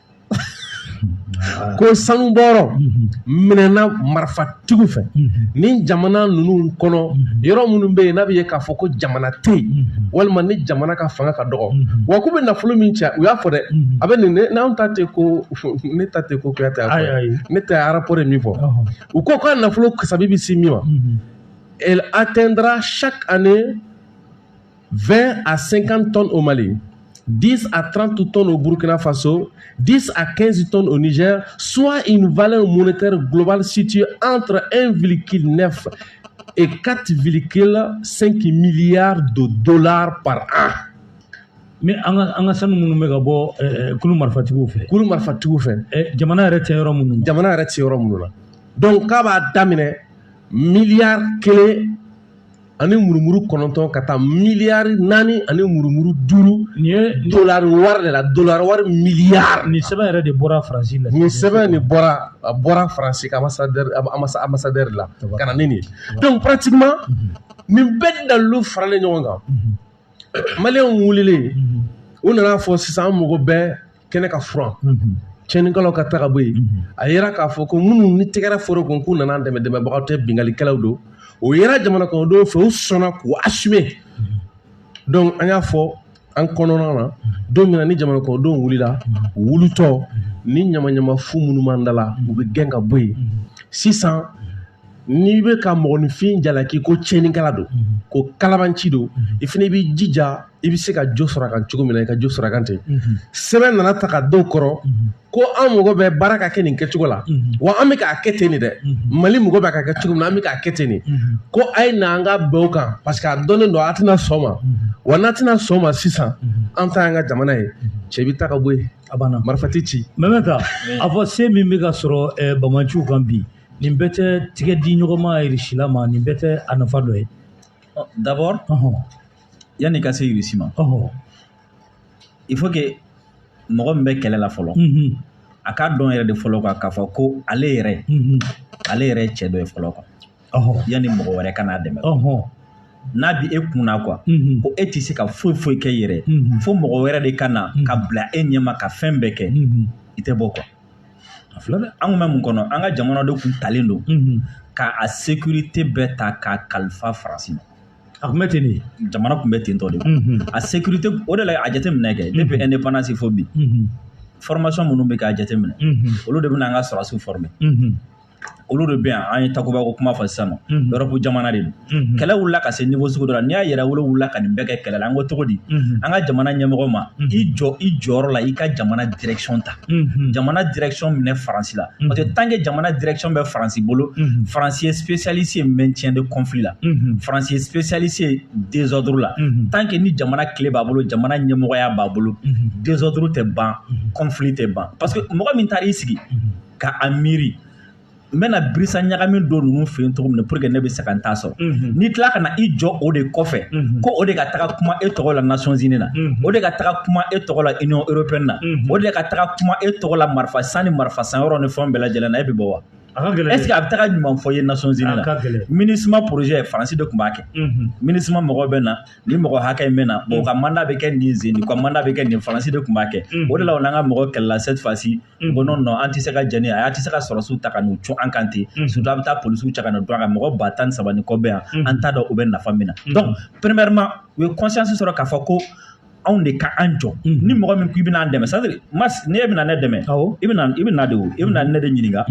ko sanu bɔyɔrɔ minɛna marifatigiw fɛ ni jamana ninnu kɔnɔ yɔrɔ minnu bɛ yen n'a bɛ ye k'a fɔ ko jamana tɛ yen walima ni jamana ka fanga ka dɔgɔ wa k'u bɛ nafolo min cɛ u y'a fɔ dɛ a bɛ nin n'an ta tɛ ko ne ta tɛ ko kuyate ne tɛ rapport de min fɔ u ko k'a nafolo kasabi bɛ se min ma elle atteindra chaque année 20 à 50 tonnes au Mali, 10 à 30 tonnes au Burkina Faso, 10 à 15 tonnes au Niger, soit une valeur monétaire globale située entre 1,9 et 4,5 milliards de dollars par an. Mais
an ka an ka sanu minnu bɛ ka bɔ eh, kulu marifatigiw fɛ kulu marifatigiw fɛ eh,
jamana yɛrɛ tɛ yɔrɔ
minnu jamana yɛrɛ tɛ yɔrɔ minnu na
donc k'a b'a daminɛ miliyari kelen ani murumuru kɔnɔntɔn ka taa miliyari naani ani murumuru duuru nin ye dolari wari de la dolari wari miliyari nin sɛbɛn yɛrɛ de bɔra
faransi la nin sɛbɛn de bɔra
a bɔra faransi ka ambassadeur amba ambassadeur la ka na ni nin ye donc pratiquement nin bɛɛ dalilu faralen ɲɔgɔn kan maliyɛnw wulilen u nana a fɔ sisan an mago bɛ kɛnɛ ka furan tiɲɛnikɛlaw ka taga bɔ yen a yera k'a fɔ ko minnu ni tɛgɛrɛ fɔra u kun k'u nana dɛmɛ dɛmɛbagaw tɛ binkalikɛlaw don o yera jamana kɔnɔdenw fɛ u sɔnna k'u assumer donc an y'a fɔ an kɔnɔna na don min na ni jamana kɔnɔdenw wulila u wulitɔ ni ɲamaɲama fu minnu b'an da la u bɛ gɛn ka bɔ yen sisan n'i bɛ ka mɔgɔninfin jalaki ko tiɲɛnikɛla don mhm. ko kalabanci don mhm. i fana b'i jija i bɛ se ka jo sɔrɔ a kan cogo min na i ka jo sɔrɔ a kan ten mhm. sɛbɛn nana ta ka dɔw kɔrɔ ko an mago bɛ baara ka kɛ nin kɛcogo la wa an bɛ k'a kɛ ten nin dɛ mali mago bɛ ka kɛ cogo min na an bɛ k'a kɛ ten nin ko a ye na an ka bɛn o kan parce que a dɔnnen don a tɛna sɔn ma wa n'a tɛna sɔn ma sisan an ta y'an ka jamana ye cɛ bɛ taa ka bɔ yen a banna marifa tɛ ci même ka a fɔ
se min bɛ ka sɔrɔ eh, banbaanciw kan bi nin bɛɛ tɛ tigɛ di ɲɔgɔnma irisi la ma nin bɛɛ tɛ a nafa dɔ ye
d'abord yanni ka se irisi ma il faut que mɔgɔ min bɛ kɛlɛ la fɔlɔ a k'a dɔn yɛrɛ de fɔlɔ quoi k'a fɔ ko ale yɛrɛ ale yɛrɛ ye cɛ dɔ ye fɔlɔ quoi yanni mɔgɔ wɛrɛ ka n'a dɛmɛ n'a bɛ e kun na quoi ko e tɛ se ka foyi foyi kɛ yɛrɛ fo mɔgɔ wɛrɛ de ka na ka bila e ɲɛma ka fɛn bɛɛ kɛ i tɛ bɔ quoi a filɛ dɛ an kun bɛ mun kɔnɔ an ka jamana de kun talen don ka a sécurité bɛɛ ta k'a kalifa faransi ma a kun bɛ ten de
jamana kun bɛ ten tɔ
de a sécurité o de la a jateminɛ kɛ depuis indépendance fo bi formation minnu bɛ k'a jateminɛ olu de bɛna an ka sɔrɔdasiw former olu de bɛ yan an ye takuba ko kuma fɔ sisan nɔ europe jamana de don kɛlɛ wulila ka se niveau sugu dɔ la n'i y'a yɛrɛwolo wulila ka nin bɛɛ kɛ kɛlɛ la an ko cogo di an ka jamana ɲɛmɔgɔ ma i jɔ i jɔyɔrɔ la i ka jamana direction ta jamana direction minɛ faransi la parce que tant que jamana direction bɛ faransi bolo faransi ye spécialiste ye maintien de conflit la faransi ye spécialiste ye désordre la tant que ni jamana kile b'a bolo jamana ɲɛmɔgɔya b'a bolo désordre tɛ ban conflit tɛ ban parce que mɔgɔ min taara i sigi ka a miiri n bɛna birisa ɲagami don ninnu fɛ yen cogo min na pour que ne bɛ se ka n ta sɔrɔ n'i tila ka na i jɔ o de kɔfɛ ko o de ka taga kuma e tɔgɔ la Nations Unies na o de ka taga kuma e tɔgɔ la Union Européenne na o de ka taga kuma e tɔgɔ la marifa san ni marifa san yɔrɔ ni fɛnw bɛɛ lajɛlen na e bɛ bɔ wa est-ce que a bɛ taga ɲuman fɔ i ye Nations Unies na MINUSMA projet Faransi de tun b'a kɛ MINUSMA mɔgɔw bɛ na nin mɔgɔ hakɛ in bɛ na u ka mandat bɛ kɛ nin zen nin u ka mandat bɛ kɛ nin Faransi de tun b'a kɛ o de la u n'an ka mɔgɔ kɛlɛla cette fois-ci N ko non an tɛ se ka jɛn ni a' tɛ se ka sɔrɔsiw ta ka n'u cun an kan ten surtout a' bɛ taa polisiw cɛ ka na don an kan mɔgɔ ba tan ni saba ni kɔ bɛ yan an t'a dɔn u bɛ nafa min na donc premièrement u ye conscience sɔrɔ k'a fɔ ko anw de ka an jɔ ni mɔgɔ min ko i bɛna an dɛmɛ c'est-à-dire masi ni i bɛna ne dɛmɛ i i bɛ na de i bɛna ne de ɲininka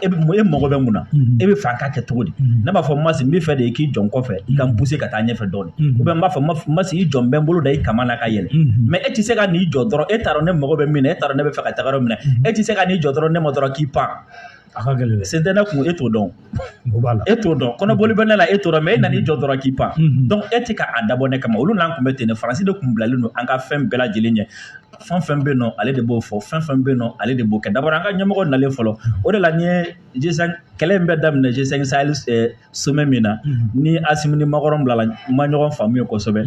e bɛ e mago bɛ mun na e bɛ fɛ a ka kɛ cogo di ne b'a fɔ masi n bɛ fɛ de i k'i jɔ n kɔfɛ i ka n pousser ka taa ɲɛfɛ dɔɔni ou bien n b'a fɔ masi i jɔ n bɛ n bolo da i kaman na ka yɛlɛn mais e tɛ se ka n'i jɔ dɔrɔn e t'a dɔn ne mago bɛ min na e t'a dɔn ne bɛ fɛ ka taga yɔrɔ min na e tɛ se ka n'i jɔ dɔrɔn ne ma dɔrɔn k'i pan a ka gɛlɛn dɛ sen tɛ ne kun e t'o dɔn o b'a la e t'o dɔn kɔnɔboli bɛ ne la e t'o dɔn mais e nan'i jɔ dɔrɔn k'i pan donc e tɛ ka a dabɔ ne kama olu n'an kun bɛ ten de faransi de kun bilalen don an ka fɛn bɛɛ lajɛlen ɲɛ fɛn fɛn bɛ yen nɔ ale de b'o fɔ fɛn fɛn bɛ yen nɔ ale de b'o kɛ d'abord an ka ɲɛmɔgɔ nalen fɔlɔ o de la n ye G5 kɛlɛ in bɛ daminɛ G5 sahel sommet min na ni asimi ni makɔrɔn bilala ma ɲɔgɔn faamuya kosɛbɛ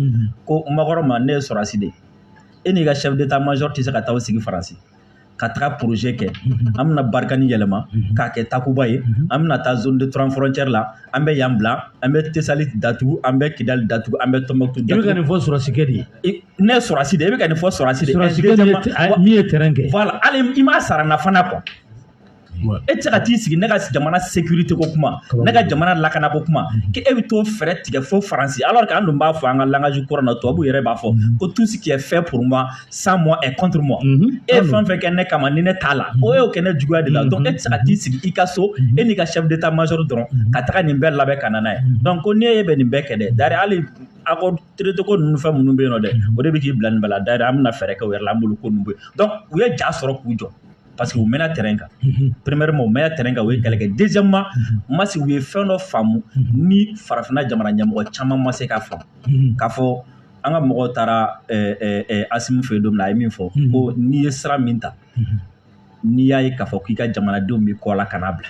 ko makɔrɔn ma ne ye sɔrɔsi de ye e n'i ka chef d'état major tɛ se ka taa sigi faransi ka taga projet kɛ an bɛna barikani yɛlɛma k'a kɛ takuba ye an bɛna taa zone des trois frontières la an bɛ yan bila an bɛ tesali datugu an bɛ kidali datugu an bɛ tɔnbɔkutu datugu i bɛ ka nin fɔ sɔrɔsikɛ de ye ne ye sɔrɔsi de ye e bɛ ka nin fɔ sɔrɔsi de ye min ye terrain kɛ voilà hali i m'a sara n na fana quoi e tɛ se ka t'i sigi ne ka jamana sécurité ko kuma ne ka jamana lakana ko kuma mhm. k'e bɛ t'o fɛɛrɛ tigɛ fo faransi alors que an dun b'a fɔ an ka langage courant na tubabu yɛrɛ b'a fɔ mhm. ko tout ce qui est fait pour moi sans moi est contre moi mhm. e ye fɛn fɛn kɛ ne kama ni ne t'a la e y'o kɛ ne juguya de la donc e tɛ se ka t'i sigi i ka so e n'i ka chef d'état major dɔrɔn ka taga nin bɛɛ labɛn ka na n'a ye donc ko n'e ye bɛ nin bɛɛ kɛ dɛ d'ailleurs hali accord traité ko ninnu fɛn minnu bɛ yen nɔ dɛ o de bɛ k'i bila nin bɛɛ la d'ailleurs an bɛna fɛɛrɛ kɛ o yɛrɛ la an b'olu ko ninnu bɔ yen donc u ye ja sɔrɔ k'u jɔ parce que u mɛnna terrain kan premièrement u mɛnna terrain kan u ye kɛlɛ kɛ deuxièmement masi u ye fɛn dɔ faamu ni farafinna jamana ɲɛmɔgɔ caman ma se k'a faamu k'a fɔ an ka mɔgɔw taara asimi fɛ yen don min na a ye min fɔ ko n'i ye sira min ta n'i y'a ye k'a fɔ k'i ka jamanadenw b'i kɔ la kan'a bila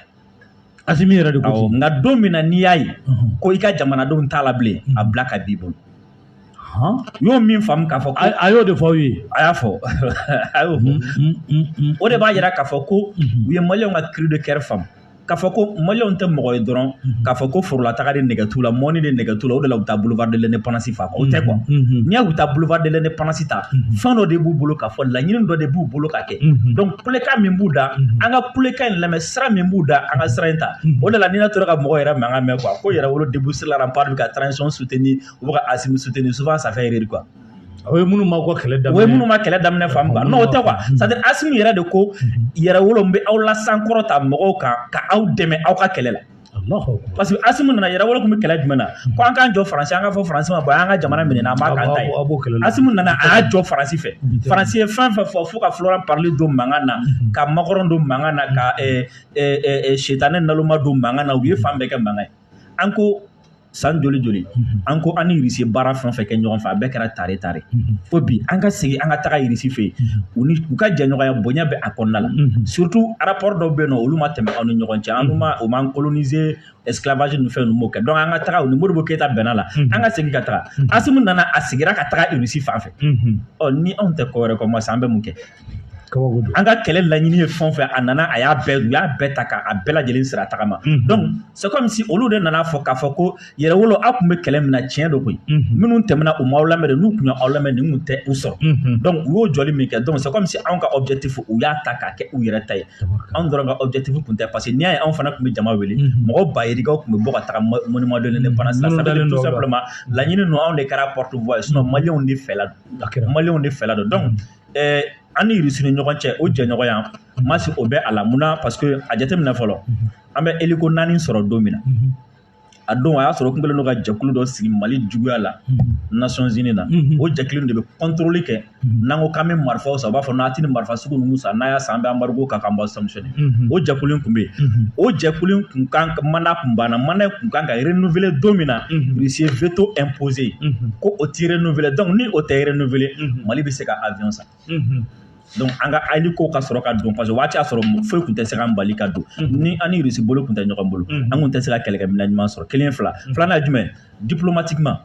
Asimi yɛrɛ de ko ten nka don min na n'i y'a ye ko i ka jamanadenw t'a la bilen a bila ka b'i bolo y'o min faamu k'a fɔ a y'o de fɔ aw ye a y'a fɔ a y'o fɔ o de b'a yira k'a fɔ ko u ye maliyɛnw ka cri de cœur faamu k'a fɔ ko maliyɛnw tɛ mɔgɔ ye dɔrɔn k'a fɔ ko forolataga de nɛgɛ t'u la mɔni de nɛgɛ t'u la o de la u taa boulevard de l'indépendance fa o tɛ quoi n'i y'a u taa boulevard de l'indépendance ta fɛn dɔ de b'u bolo k'a fɔ laɲini dɔ de b'u bolo k'a kɛ kɛ donc kulekan min b'u da an ka kulekan in lamɛn sira min b'u da an ka sira in ta o de la ni ne tora ka mɔgɔ yɛrɛ mankan mɛn quoi ko yɛrɛwolo debout sur les remparts bɛ ka transition soutenir u bɛ ka asimi soutenir souvent ça fait rire quoi o ye minnu ma kɛlɛ daminɛ o ye minnu ma kɛlɛ daminɛ faamu quoi non o tɛ quoi c'est à dire asimi yɛrɛ de ko yɛrɛwolo n bɛ aw lasankɔrɔta mɔgɔw kan ka aw dɛmɛ aw ka kɛlɛ la parce que asimi nana yɛrɛ wolo tun bɛ kɛlɛ jumɛn na ko an k'an jɔ faransi an k'a fɔ faransi ma bɔ an ka jamana minɛ an b'a k'an ta ye asimi nana a y'a jɔ faransi fɛ faransi ye fɛn fɛn fɔ fo ka florence parly don mankan na ka macron don mankan na ka sitanɛ naloma don mankan na u ye fan bɛɛ kɛ mankan ye an ko san joli joli an ko an ni irisi baara fɛn fɛn kɛ ɲɔgɔn fɛ a bɛɛ kɛra tare tare fo bi an ka segin an ka taga irisi fɛ yen u ka jɛɲɔgɔnya bonya bɛ a kɔnɔna la surtout rapport dɔw bɛ yen nɔ olu ma tɛmɛ aw ni ɲɔgɔn cɛ u m'an coloniser esclavage ni fɛn ninnu m'o kɛ donc an ka taga u ni Modibo Keyita bɛnna la an ka segin ka taga Asimi nana a seginna ka taga irisi fan fɛ ɔ ni anw tɛ ko wɛrɛ kɔ Masi an bɛ mun kɛ an ka kɛlɛ laɲini ye fɛn fɛn a nana a y'a bɛɛ u y'a bɛɛ ta k'a bɛɛ lajɛlen sira tagama c'est comme si olu de nana fɔ k'a fɔ ko yɛrɛwolo aw tun bɛ kɛlɛ min na tiɲɛ don koyi minnu tɛmɛna u m'aw lamɛn dɛ n'u tun y'aw lamɛn nin tun tɛ u sɔrɔ u y'o jɔli min kɛ c'est comme si anw ka objectif u y'a ta k'a kɛ u yɛrɛ ta ye anw dɔrɔn ka objectif tun tɛ parce que n'i y'a ye anw fana tun bɛ jama wele mɔgɔ ba yirikaw tun bɛ bɔ ka taga monument de l'indépendance la tout simplement laɲini ninnu anw de kɛra porte voix ye sinon maliyɛnw de fɛla don maliyɛnw de fɛla don ɛɛ an ni irisi ni ɲɔgɔn cɛ o jɛɲɔgɔnya masi o bɛ a la mun na parce que a jateminɛ fɔlɔ an bɛ hélico naani sɔrɔ don min na a don a y'a sɔrɔ kun kɛlen don ka jɛkulu dɔ sigi mali juguya la nations unies na o jɛkulu de bɛ contrôle kɛ n'an ko k'an bɛ marifaw san u b'a fɔ n'a tɛ nin marifa sugu ninnu san n'a y'a san an bɛ embargo k'a kan an b'aw sanctionner o jɛkulu in tun bɛ yen o jɛkulu in tun kan ka mandat tun banna mandat in tun kan ka renouveler don min na Russie ye veto imposer ko o tɛ renouveler donc ni o tɛ renouveler Mali bɛ se ka avion san donc an ka hélico ka sɔrɔ ka don parce que waati y'a sɔrɔ foyi tun tɛ se ka an bali ka don ni an ni Russie bolo tun tɛ ɲɔgɔn bolo an tun tɛ se ka kɛlɛkɛminɛn ɲuman sɔrɔ kelen fila filanan ye jumɛn diplomatiquement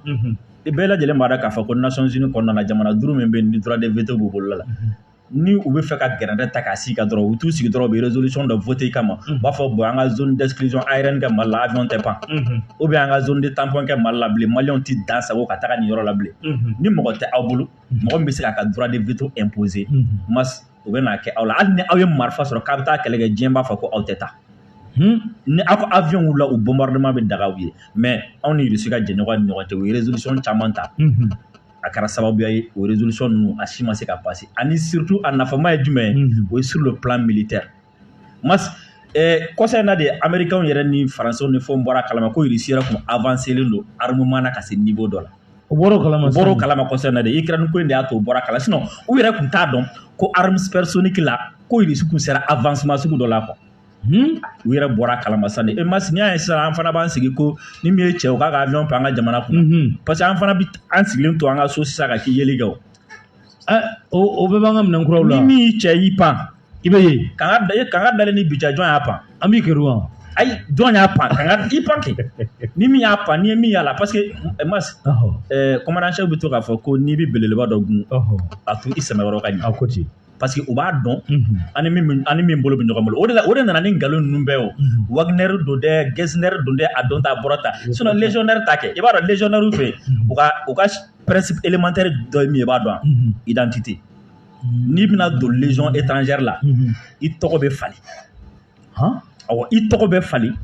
bɛɛ lajɛlen b'a dɔn k'a fɔ ko Nations Unies kɔnɔna na jamana duuru min bɛ yen ni droit de veto b'u bolo la ni u bɛ fɛ ka gɛrɛntɛ ta k'a sigi ka dɔrɔn u t'u sigi dɔrɔn u bɛ résolution dɔ voter kama u b'a fɔ bon an ka zone d'exclusion aérienne kɛ Mali la avion tɛ pan ou bien an ka zone de tampon kɛ Mali la bilen maliyɛnw tɛ dan sagon ka taga nin yɔrɔ la bilen ni mɔgɔ tɛ aw bolo mɔgɔ min bɛ se k'a ka droit de veto imposer Masi u bɛ n'a kɛ aw la hali ni aw ye marifa sɔrɔ k'a bɛ taa kɛlɛ kɛ diɲɛ b'a fɔ ko aw tɛ taa ni aw ka avion wulila u bombardement bɛ daga aw ye mais anw ni Russie ka jɛɲɔgɔn ni ɲɔgɔn cɛ u ye résolution caman ta a kɛra sababuya ye o résolution ninnu a si ma se ka passer ani surtout a nafama ye jumɛn ye mhm. o ye sur le plan militaire mas eh, kɔsa in na de américains yɛrɛ ni français ni fɛnw bɔr'a kalama ko russie yɛrɛ tun avancelen don armement na ka se niveau dɔ la u bɔr'o kalama
u bɔr'o kalama kɔsa in na de ukraine
ko in de y'a to u bɔr'a kalama sinon u yɛrɛ tun t'a dɔn ko armes supersoniques la ko russie tun sera avancement sugu dɔ la quoi Hmm? u yɛrɛ bɔr'a kalama sa de mas n'i y'a ye sisan an fana b'an sigi ko ni min ye cɛ k'a ka avion pan an ka jamana kɔnɔ mhm. parce que an fana bɛ an sigilen to an ka so sisan ka k'i yeli kɛ o eh, o
bɛɛ b'an ka minɛn kuraw la ni min y'i cɛ y'i pan
i bɛ ye
kanga da kanga
dalen ni bija jɔn y'a pan an b'i kɛr'u
kan ayi jɔn
y'a pan kanga i pan kɛ ni min y'a pan n'i ye min y'a la parce que eh, mas commandant chef eh, bɛ to k'a fɔ ko n'i bɛ belebeleba dɔ gun a to i sɛmɛyɔrɔ ka ɲɛ a ko ten
parce
que
u b'a
dɔn an ni min an ni min bolo bɛ ɲɔgɔn bolo o de la o de nana ni nkalon ninnu bɛɛ o Wagner don dɛ Gesner don dɛ a don tan a bɔra tan sinon légionnaire ta kɛ i b'a dɔn légionnaire fɛ u ka u ka principe élémentaire dɔ ye min ye i b'a dɔn identité n'i bɛna don légion étrangère la i tɔgɔ bɛ falen awɔ i tɔgɔ bɛ falen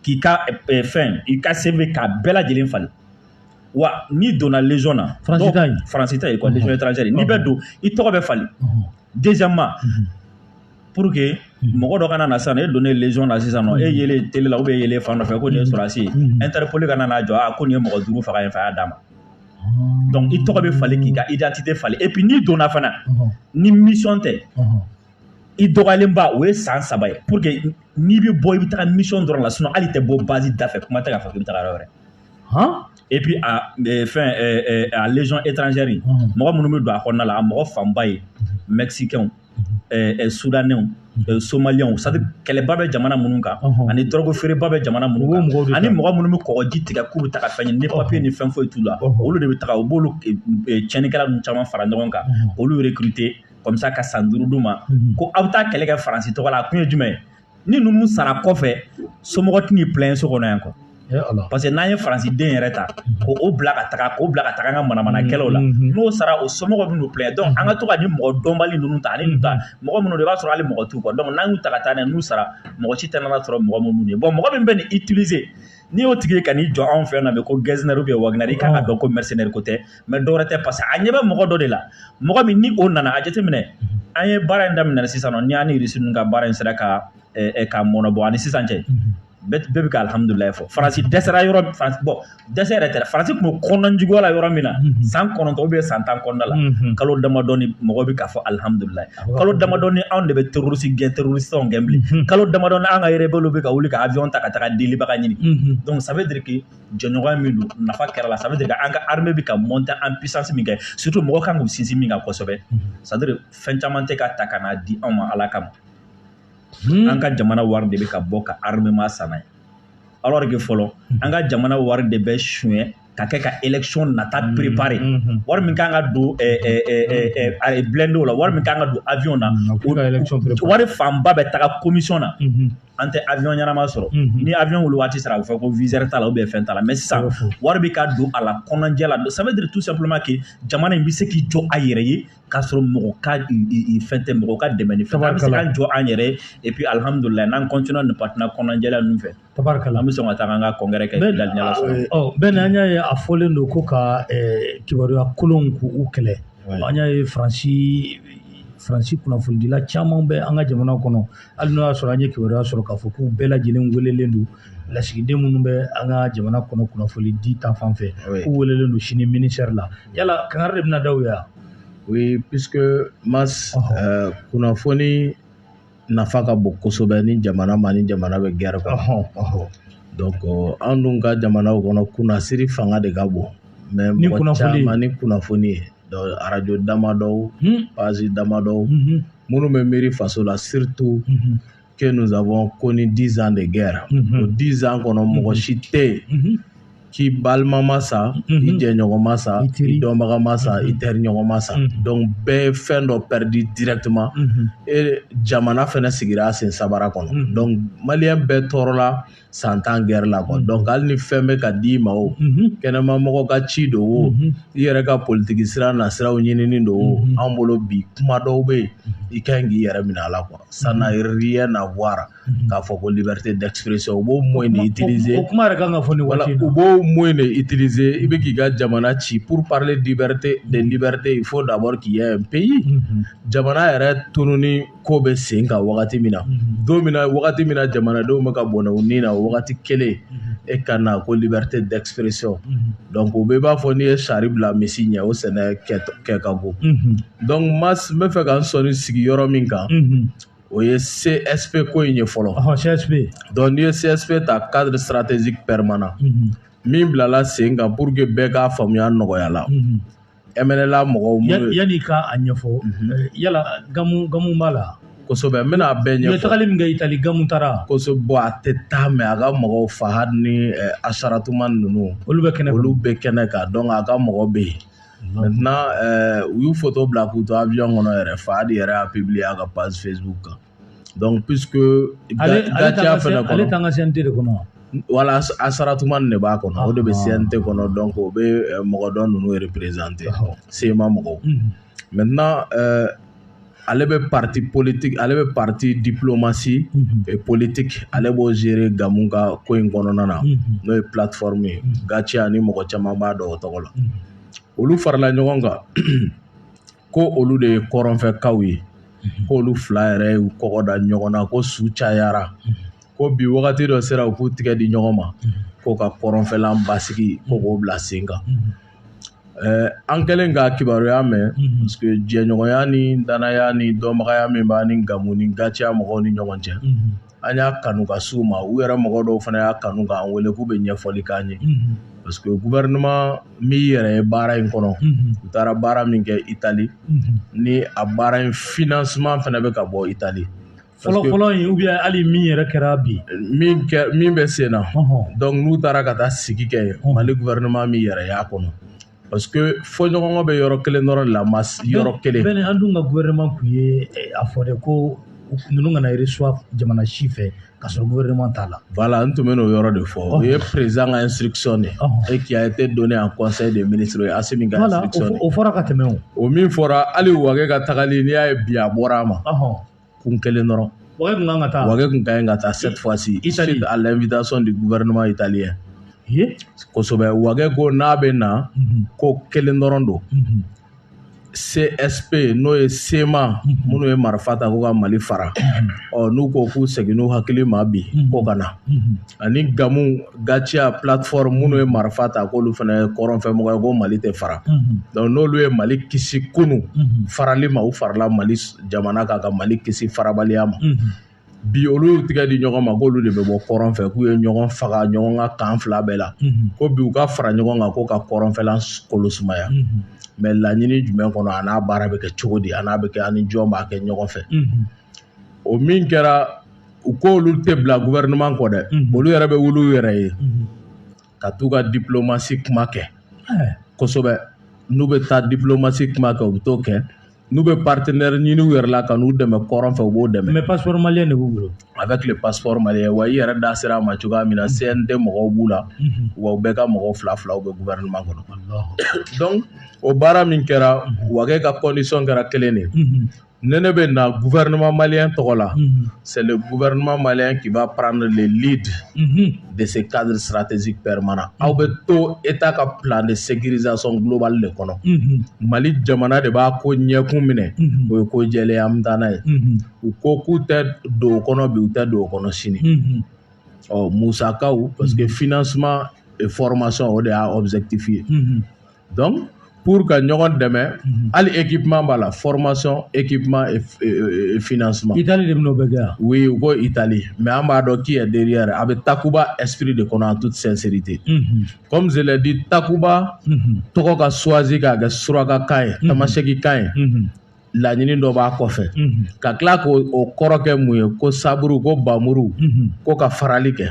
k'i ka fɛn i ka CV k'a bɛɛ lajɛlen falen wa n'i donna légion na faransi ta ye quoi légion étrangère n'i bɛ don i tɔgɔ bɛ falen deuxièmement pour que mɔgɔ dɔ kana na sisan e donnen légion na sisan nɔ e yelen tele la ou bien e yelen fan dɔ fɛ ko nin ye sɔrɔdasi ye interpol kana n'a jɔ a ko nin ye mɔgɔ duuru faga yen fɛ a y'a d'an ma donc i tɔgɔ bɛ falen k'i ka identité falen et puis n'i donna fana ni mission tɛ i dɔgɔyalenba o ye san saba ye pour que n'i bɛ bɔ i bɛ taga mission dɔrɔn la sinon hali i tɛ bɔ base da fɛ kuma tɛ k'a fɔ k'i bɛ taga yɔrɔ wɛrɛ hɔn et puis a eh, fɛn eh, eh, a légion étrangère in mhm. mɔgɔ minnu bɛ don a kɔnɔna la a mɔgɔ fanba ye mhm. mexicains mhm. sudanɛw somaliyɛnw c'est-à-dire kɛlɛba bɛ jamana minnu kan ani dɔrɔgu feereba bɛ jamana minnu kan ani mɔgɔ minnu bɛ kɔgɔji tigɛ k'u bɛ taga fɛn ɲini ni papiye ni fɛn foyi t'u la olu de bɛ taga u b'olu tiɲɛnikɛla ninnu caman fara ɲɔgɔn kan olu recruter comme ça ka san duuru d'u ma ko aw bɛ taa kɛlɛ kɛ faransi tɔgɔ la a kun ye jumɛn ye ni ninnu sara kɔfɛ somɔgɔ tɛn'u plaint so kɔnɔ yan quoi parce que n'an ye faransi den yɛrɛ ta k'o bila ka taga k'o bila ka taga an ka manamanakɛlɛw la n'o sara o somɔgɔw bɛn'u plaint donc an ka to ka ni mɔgɔ dɔnbali ninnu ta ani ninnu ta mɔgɔ minnu i b'a sɔrɔ hali mɔgɔ t'u kɔ donc n'an y'u ta ka taa n'a ye n'u sara mɔgɔ si tɛna n'an sɔrɔ mɔgɔ minnu ye bon mɔgɔ min bɛ nin utiliser n'i y'o tigi ye ka n'i jɔ anw fɛ yan nɔ bi ko Gesner ou bien Wagner i kan k'a dɔn ko mercenaire ko tɛ mais dɔwɛrɛ tɛ parce que a ɲɛ bɛ mɔgɔ dɔ de la mɔgɔ min ni o nana a jateminɛ an ye baara in daminɛ sisan nɔ ni an ni irisi ninnu ka baara in sera ka ka mɔnɛ bɔ ani sisan cɛ bɛɛ bɛ ka alihamudulilayi fɔ faransi dɛsɛra yɔrɔ bon dɛsɛ yɛrɛ tɛ faransi tun bɛ kɔnɔnjuguya la yɔrɔ min na san kɔnɔntɔn ou bien san tan kɔnɔna la kalo damadɔni mɔgɔ bɛ k'a fɔ alihamudulilayi kalo damadɔni anw de bɛ terroriste gɛn terroristew gɛn bilen kalo damadɔ an ka rebelle bɛ ka wuli ka avion ta ka taa delibaga ɲini donc ça veut dire que jɛɲɔgɔnya min don nafa kɛra la ça veut dire que an ka armée bɛ ka monter en puissance min kɛ surtout mɔgɔ kan k'u sinsin min kan kosɛbɛ c'est-à-dire fɛn caman tɛ ka ta ka n'a di anw ma ala kama hmm. an ka jamana wari de bɛ ka bɔ ka armement san n'a ye alors que fɔlɔ hmm. an ka jamana wari de bɛ suɲɛ ka kɛ ka élection nata hmm. préparer wari min kan ka don eh, eh, eh, blindéw la wari min kan ka don avion na wari fanba bɛ taga commission na an tɛ avion ɲɛnama sɔrɔ mhm. ni avion wuli waati sera a bɛ fɔ ko viseur t'a la ou bien fɛn t'a la mais sisan wari bɛ ka don a la kɔnɔnjɛ la ça veut dire tout simplement que jamana in bɛ se k'i jɔ a yɛrɛ ye k'a sɔrɔ mɔgɔ ka fɛn tɛ mɔgɔ ka dɛmɛ ni fɛn an bɛ se k'an jɔ an yɛrɛ ye et puis alhamdulillah n'an continue nin partenaire kɔnɔnjɛla ninnu fɛ tabarikala an bɛ sɔn ka taa an ka congrès kɛ dalinya la sɔrɔ ɔ bɛɛ ni an y'a ye
a fɔlen don ko ka eh, kibaruya kolonw k'u kɛlɛ an y'a ye faransi faransi kunnafonidila caman bɛ an ka jamana kɔnɔ hali n'o y'a sɔrɔ an ye kibaruya sɔrɔ k'a fɔ k'u bɛɛ lajɛlen welelen don lasigiden minnu bɛ an ka jamana kɔnɔ kunnafoni di ta fan fɛ k'u welelen don sini ministère la yala kangari de bɛna da u ye wa oui puisque
mas euh, kunnafoni nafa ka bon kosɛbɛ ni jamana ma ni jamana bɛ guerre kɔnɔ donc euh, an dun ka jamanaw kɔnɔ kunnasiri fanga de ka bon mais mɔgɔ caman ni kunnafoni ye radio damadɔw page damadɔw minnu bɛ miiri faso la surtout que nous avons connu dix ans de guerre o dix ans kɔnɔ mɔgɔ si tɛ yen k'i balima ma sa i jɛɲɔgɔn ma sa i dɔnbaga ma sa i teriɲɔgɔn ma sa donc bɛɛ ye fɛn dɔ perdu directement et jamana fana sigira sen sabara kɔnɔ donc malien bɛɛ tɔɔrɔla san tan guerre la quoi donc hali ni fɛn bɛ ka d di i ma o kɛnɛma mɔgɔ ka ci don o i yɛrɛ ka politigi sira na siraw ɲinin don o an bolo bi kuma dɔw bɛ yen i ka ɲi k'i yɛrɛ minɛ a la quoi ça n'a rien à voir k'a fɔ ko liberté d'expression u b'o moyen utiliser o kuma yɛrɛ kan ka fɔ
nin waati la u b'o moyen
de utiliser i bɛ k'i ka jamana ci pour parler liberté de liberté il faut d'abord qu'il y ait un pays jamana yɛrɛ tununni ko bɛ sen kan wagati min na don min wagati min na jamanadenw bɛ ka bɔnɛ u ni na o wagati kelen e ka na ko liberté d'expression donc o bɛɛ b'a fɔ n'i ye sari bila misi ɲɛ o sɛnɛ kɛ ka go donc mas n bɛ fɛ ka n sɔnni sigi yɔrɔ min kan o ye csp ko in ye
fɔlɔ csp donc n'i ye
csp ta cadre stratégique permanent min bilala sen kan pour que bɛɛ k'a faamuya nɔgɔya la MNLA mɔgɔw minnu ye, yanni ka a
ɲɛfɔ yala Gamu Gamu b'a la kosɛbɛ n bɛna a bɛɛ
ɲɛfɔ. U ye tagali min kɛ Itali Gamu
taara kosɛbɛ bon a tɛ
taa mais a ka mɔgɔw Fahad ni eh, Acharatoumane ninnu olu bɛ kɛnɛ olu bɛ kɛnɛ kan donc a ka mɔgɔ bɛ yen maintenant eh, u y'u foto bila k'u to avion kɔnɔ yɛrɛ Fahad yɛrɛ y'a publier a ka page facebook kan donc puisque Gatia fana kɔnɔ ale t'an ka CNT de
kɔnɔ wala
Asaratuman de b'a kɔnɔ o de bɛ CNT kɔnɔ donc o bɛ euh, mɔgɔ dɔ ninnu représenter CMA mɔgɔw mhm. maintenant euh, ale bɛ partie politique ale bɛ partie diplomatie mhm. et politique ale b'o gérer Gamu ka ko in kɔnɔna na mhm. n'o ye plateforme ye Gatia ni mɔgɔ caman b'a dɔn o tɔgɔ la olu farala ɲɔgɔn kan ko olu de ye kɔrɔnfɛkaw ye mhm. ko olu fila yɛrɛ y'u kɔgɔ da ɲɔgɔn na ko su cayara mhm. ko bi wagati dɔ sera u k'u tigɛ di ɲɔgɔn ma mhm. ko ka kɔrɔnfɛla basigi ko k'o bila sen kan eh, an kɛlen ka kibaruya mɛn parce que jɛɲɔgɔnya ni danaya ni dɔnbagaya min b'an ni Gamu ni Gatia mɔgɔw ni ɲɔgɔn cɛ an y'a kanu ka s'u ma u yɛrɛ mɔgɔ dɔw fana y'a kanu k'an wele k'u bɛ ɲɛfɔli k'an ye parce que gouvernement min yɛrɛ ye baara in kɔnɔ u taara baara min kɛ Itali ni a baara in financement fana bɛ ka bɔ Itali fɔlɔ fɔlɔ in
ou bien hali min yɛrɛ kɛra bi in min bɛ
sen na donc n'u taara ka taa sigi kɛ yen Mali gouvernement min yɛrɛ y'a kɔnɔ parce que fɔɲɔgɔnkɔ bɛ yɔrɔ kelen dɔrɔn de la ma yɔrɔ kelen pe an dun ka
gouvernement kun ye eh, a fɔ de ko ninnu kana reçoit jamana si fɛ ka sɔrɔ gouvernement t'a la voilà n tun bɛ n'o
yɔrɔ de fɔ o ye président ka instruction de ye et qui a été donné en conseil des ministres o ye Asimi ka instruction de ye o fɔra ka tɛmɛ o o
min fɔra
hali Wage ka tagali n'i y'a ye bi a bɔra a ma kun kelen dɔrɔn Wage kun kan ka taa
Wage kun ka ɲi ka taa
cette fois ci suite à l'invitation du gouvernement italien kosɛbɛ Wage ko n'a bɛ na ko kelen dɔrɔn don CSP n'o ye CMA minnu ye marifa ta ko ka Mali fara ɔ n'u ko k'u segin n'u hakili ma bi ko ka na ani Gamu Gatia plateforme minnu ye marifa ta k'olu fana ye kɔrɔnfɛmɔgɔ ye ko Mali tɛ fara donc n'olu ye Mali kisi kunu farali ma u farala Mali jamana kan ka Mali kisi farabaliya ma bi olu y'u tigɛ di ɲɔgɔn ma k'olu de bɛ bɔ kɔrɔn fɛ k'u ye ɲɔgɔn faga ɲɔgɔn ka kan fila bɛɛ la ko bi u ka fara ɲɔgɔn kan ko ka kɔrɔnfɛla kolo sumaya mais laɲini jumɛn kɔnɔ a n'a baara bɛ kɛ cogo di a n'a bɛ kɛ ani jɔn b'a kɛ ɲɔgɔn fɛ o min kɛra u ko olu tɛ bila gouvernement kɔ dɛ mhm. olu yɛrɛ bɛ wuli u yɛrɛ ye mhm. ka t'u ka diplomatie kuma kɛ eh. kosɛbɛ n'u bɛ taa diplomatie kuma kɛ u bɛ t'o kɛ n'u bɛ partenaire ɲini u yɛrɛ la ka n'u dɛmɛ kɔrɔn fɛ u b'o dɛmɛ mais passeport malien de b'u
bolo avec le
passeport malien wa i yɛrɛ da sera a ma cogoya min na mhm. CNT mɔgɔw b'u la wa u bɛɛ ka mɔgɔw fila filaw bɛ gouvernement kɔnɔ donc o baara min kɛra Wage ka condition kɛra kelen de ye ne ne bɛ na gouvernement malien tɔgɔ la mhm. c'est le gouvernement malien qui va prendre le lead mhm. de ce cadre stratégique permanent mhm. aw bɛ to état ka plan de sécurisation globale de kɔnɔ mali jamana de b'a ko ɲɛkun minɛ o ye ko jɛlen ye an bɛ taa n'a ye u ko k'u tɛ don o kɔnɔ bi u tɛ don o kɔnɔ sini ɔ musakaw parce que financement et formation o de y'a objectif ye donc pour ka ɲɔgɔn dɛmɛ mhm. hali équipement b'a la formation équipement et, et, et financement Italie de bɛn'o bɛɛ kɛ yan
oui u ko Italie
mais an b'a dɔn qui est derrière a bɛ Takuba esprit de kɔnɔ en toute sincérité mm -hmm. comme je l'ai dit Takuba mm -hmm. tɔgɔ ka choisi k'a kɛ surakakan ye tamasɛkikan ye laɲini dɔ b'a kɔfɛ ka tila k' o kɔrɔ kɛ mun ye ko sabre ko npanmuru ko ka farali kɛ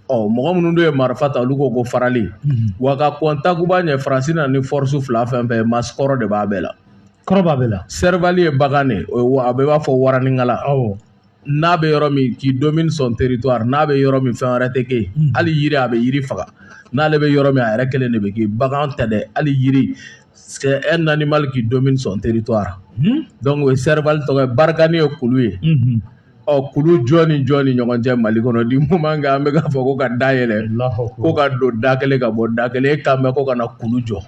ɔ mɔgɔ minnu dun ye marifa ta olu ko ko farali wa ka kɔn Takuba ɲɛ faransi na ni force fila fɛn fɛ ma kɔrɔ de b'a bɛɛ la kɔrɔ
b'a
bɛɛ la serval ye bagan de a bɛɛ b'a fɔ waraninkalan n'a bɛ yɔrɔ min qui domine son territoire n'a bɛ yɔrɔ min fɛn wɛrɛ tɛ kɛ yen hali yiri a bɛ yiri faga n'ale bɛ yɔrɔ min a yɛrɛ kelen de bɛ kɛ bagan tɛ dɛ hali yiri c'est un animal qui domine son territoire hmm? donc o ye serval tɔgɔ ye Barkhane ye kulu ye hmm. ɔ kulu jɔn ni jɔn ni ɲɔgɔn cɛ mali kɔnɔ du moment que an bɛ k'a fɔ ko ka da yɛlɛ ko ka don da kelen ka bɔ da kelen e kan bɛ ko ka na kulu jɔ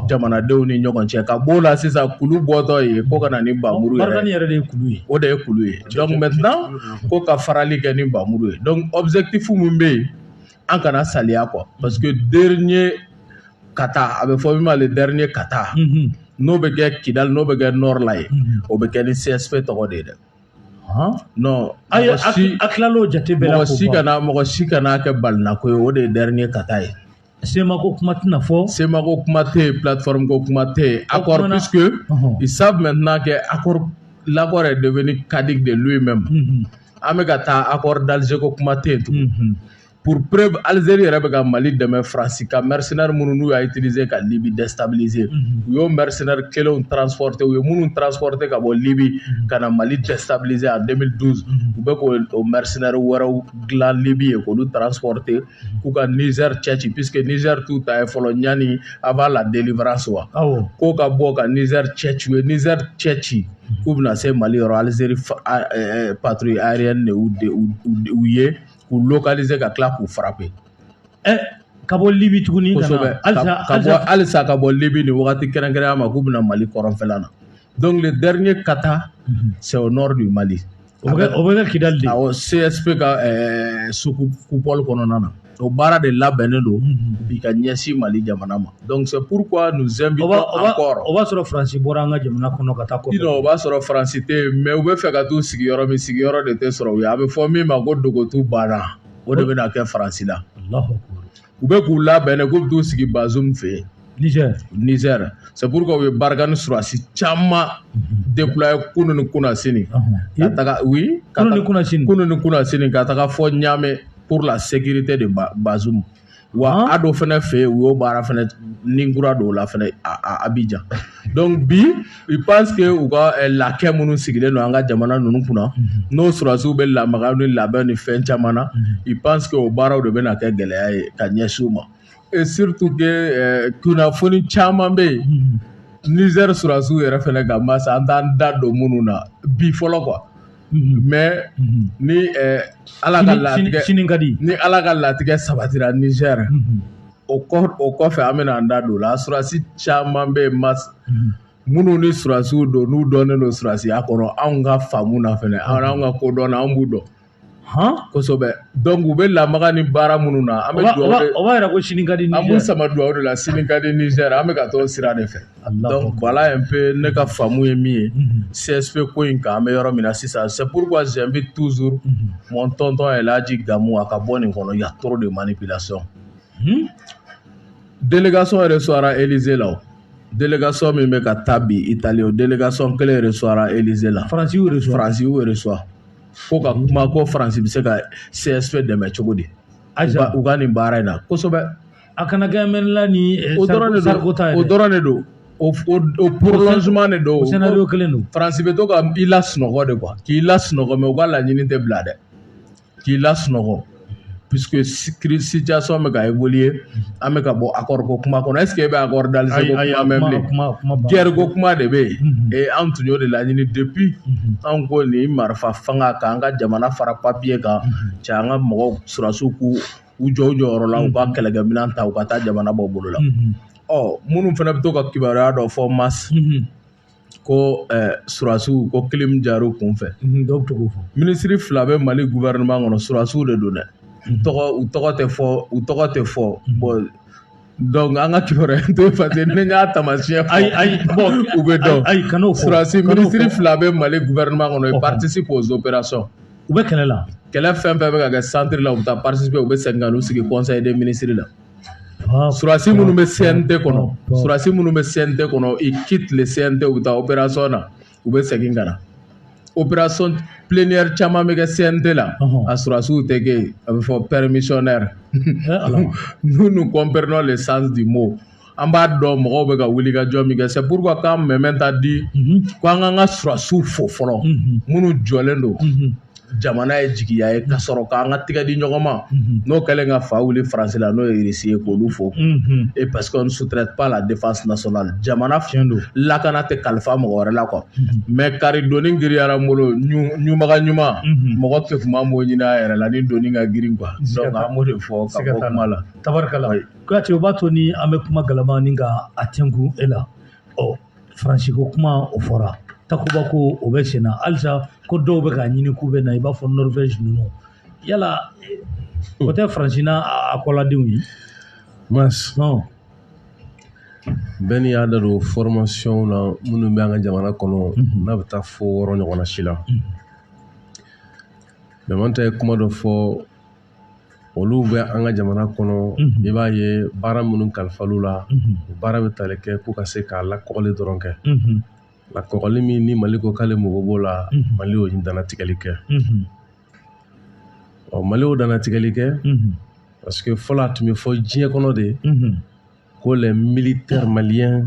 jamanadenw ni ɲɔgɔn cɛ ka b'o la sisan kulu bɔtɔ ye ko ka na ni npanmuru Barkhane yɛrɛ de ye kulu
ye o de ye kulu ye
donc maintenant ko ka farali kɛ ni npanmuru ye donc objectif min bɛ yen an kana saliya quoi parce que dernier kata a bɛ fɔ min ma le dernier kata n'o bɛ kɛ kidali n'o bɛ kɛ nord la ye o bɛ kɛ ni csp tɔgɔ de ye dɛ non ayi
a tilal'o jate bɛɛ la mɔgɔ si kana mɔgɔ si kana
kɛ balinako ye o de ye dernier kata ye Semako kuma
tɛna fɔ semako kuma tɛ yen
platfamiko kuma tɛ yen a kɔrɔ i sa tun n'a kɛ a lakɔ yɛrɛ de bɛ ni kadi de lu in mɛn ma an bɛ ka taa a kɔrɔ dazeko kuma tɛ yen tun purpre alizeri yɛrɛ bɛ ka mali dɛmɛ farasi ka mrisre minnu n'u y'a tirize ka libi dɛsɛtaze u y'o mrisre kelen tfte u ye minnu tfte ka bɔ libi ka na mali dɛsɛtaze a denmisɛnnin u bɛ k' o mrisre wɛrɛw dilan libi ye k'olu tfte k'u ka nizɛri cɛ ci puisque nizɛri t'u ta ye fɔlɔ ɲani avant la délivrance wa k'o ka bɔ ka nizɛri cɛ ci u ye nizɛri cɛ ci k'u bɛna se mali yɔrɔ alizeri patrouille aérienne de u ye k'u localiser ka tila k'u frapper
eh, ka bɔ libi tuguni kosɛbɛ
halisa ka bɔ libi nin wagati kɛrɛnkɛrɛnya ma k'u bɛna mali kɔrɔnfɛla na Donc le dernier kata mm -hmm. c'est au nord du Mali. O bɛ o bɛ
kɛ Kidali de. Awɔ CSP
ka ɛɛ sous-coupole kɔnɔna na. O baara de labɛnnen don bi ka ɲɛsin Mali jamana ma. Donc c'est pourquoi nous invitons encore. O b'a sɔrɔ
Faransi bɔra an ka jamana kɔnɔ ka taa kɔfɛ. Non o b'a sɔrɔ
Faransi tɛ yen mais u bɛ fɛ ka t'u sigi yɔrɔ min sigiyɔrɔ de tɛ sɔrɔ u ye. A bɛ fɔ min ma ko Dogotu banna o de bɛna kɛ Faransi la. Alahu akibaru. u bɛ k'u labɛn de k'u bɛ t'u sigi Bazoum fɛ yen Niger Niger c'est pourquoi u ye Barkhane surasi caman déployer kunu ni kunasini ka taga oui kunu ni kunasini kunu ni kunasini ka taga fɔ Niamey pour la sécurité de Bazoum wa ADO fɛnɛ fɛ yen u y'o baara fɛnɛ nin kura dɔw la fɛnɛ à Abidjan donc bi je pense que u ka eh, laquais minnu sigilen don an ka jamana ninnu kunna mhm. n'o surasiw bɛ lamaga ni labɛn ni fɛn caman na je mhm. pense que o baaraw de bɛna kɛ gɛlɛya ye ka ɲɛsin u ma et surtout que eh, kunnafoni caman bɛ yen mhm. Niger surasiw yɛrɛ fɛnɛ ka mas an t'an da don minnu na bi fɔlɔ quoi mais ni ala ka latigɛ sini ka di ni ala ka latigɛ sabatira Niger o o kɔfɛ an bɛna an da don o la surasi caman bɛ mas minnu ni surasiw don n'u dɔnnen don surasiya kɔnɔ anw ka faamu na fɛnɛ an anw ka kodɔn na an b'u dɔn hɔn kosɛbɛ donc u bɛ lamaga ni baara minnu na an bɛ dugawu o b'a yira ko sini ka di
an b'u sama dugawu de la
sini ka di Niger an bɛ ka t'o sira de fɛ bala in pe ne ka faamu ye min ye sɛsɛ ko in kan an bɛ yɔrɔ min na sisan sepuru ka z bɛ tuuru mɔntɔntɔn ye laji damu a ka bɔ nin kɔnɔ ya tɔɔrɔ de man ni bila sɔn delikasɔn yɛrɛ sɔrɔra elize la delikasɔn min bɛ ka taa bi i tali o delikasɔn kelen yɛrɛ sɔrɔra elize la faransi yɛrɛ faransi
yɛrɛ sɔrɔ
ko ka kuma ko faransi bɛ se ka sɛsɛ dɛmɛ cogo di u ka nin baara in na kosɛbɛ a kana
kɛ mɛnla
ni o dɔrɔn de don o dɔrɔn de don o prolongement de don o kelen don
faransi bɛ to ka i
lasunɔgɔ de quoi k'i lasunɔgɔ mais u ka laɲini tɛ bila dɛ k'i lasunɔgɔ puisque situation bɛ ka évoluer an bɛ ka bɔ accord ko kuma kɔnɔ est ce que e bɛ accord d'Alger ko kuma mɛn bilen guerre ko kuma de bɛ yen et an tun y'o de laɲini depuis an ko nin marifa fanga k'an ka jamana fara papier kan cɛ an ka mɔgɔw surasiw k'u u jɔ u jɔyɔrɔ la u ka kɛlɛkɛminɛn ta u ka taa jamana bɔ bolo la ɔ minnu fana bɛ to ka kibaruya dɔ fɔ mas ko surasiw ko kilim jar'u kun fɛ ministre fila bɛ Mali gouvernement kɔnɔ surasiw de don dɛ u tɔgɔ tɛ fɔ u tɔgɔ tɛ fɔ bon donc an ka kibaruya to parce que ne y'a tamasiyɛn fɔ ayi ayi bɔn u bɛ dɔn ayi kana o fɔ surasi kana o minisiri fɔ. fila bɛ mali gouvernement kɔnɔ ils Ɔhɔn. participent aux opérations u bɛ kɛlɛ la
kɛlɛ fɛn fɛn bɛ ka
kɛ centre la u bɛ taa participer u bɛ segin ka n'u sigi conseil des ministres la Ah, surasi minnu bɛ CNT kɔnɔ Ɔhɔn. surasi minnu bɛ CNT kɔnɔ ils quittent le CNT u bɛ taa opération na u bɛ segin ka na opération plénière caman bɛ kɛ CNT la a surasiw tɛ kɛ yen a bɛ fɔ permissionnaire nous nous comprenons le sens du mot an b'a dɔn mɔgɔw bɛ ka wuli ka jɔ min kɛ c'est pourquoi quand même ta di ko an k'an ka surasiw fo fɔlɔ minnu jɔlen don jamana ye jigiya ye ka sɔrɔ k'an ka tigɛ di ɲɔgɔn ma n'o kɛlen ka fa wuli faransi la n'o ye irisi ye k'olu fo e parce qu'on ne sous-traite pas la défense nationale jamana tiɲɛ don lakana tɛ kalifa mɔgɔ wɛrɛ la quoi mais kari doni giriyara n bolo ɲunbaga ɲuman mɔgɔ tɛ tun b'an b'o ɲini a yɛrɛ la ni doni ka girin quoi an b'o de fɔ kuma la tabarikala kuyate
o b'a to ni an bɛ kuma galama ni ka a tɛnku e la ɔ faransi ko kuma o fɔra takuba ko o bɛ sen na halisa ko dɔw bɛ k'a ɲini k'u bɛ na i b'a fɔ norvège ninnu yala o tɛ faransi n'a a kɔladenw ye mas
bɛɛ n'i y'a da don fɔrɔmasiyɔnw na minnu bɛ an ka jamana kɔnɔ mhm. n'a bɛ taa fo wɔɔrɔ ɲɔgɔnna si la mhm. damanta ye kuma dɔ fɔ olu bɛ an ka jamana kɔnɔ i b'a ye baara minnu kalifal'u la baara bɛ tali kɛ k'u ka se ka lakɔgɔli dɔrɔn kɛ lakɔgɔli min ni mali ko k'ale mago b'o la mali y'o dantigɛli kɛ ɔ mali y'o dantigɛli kɛ parce que fɔlɔ a tun bɛ fɔ diɲɛ kɔnɔ de ko les militaires maliens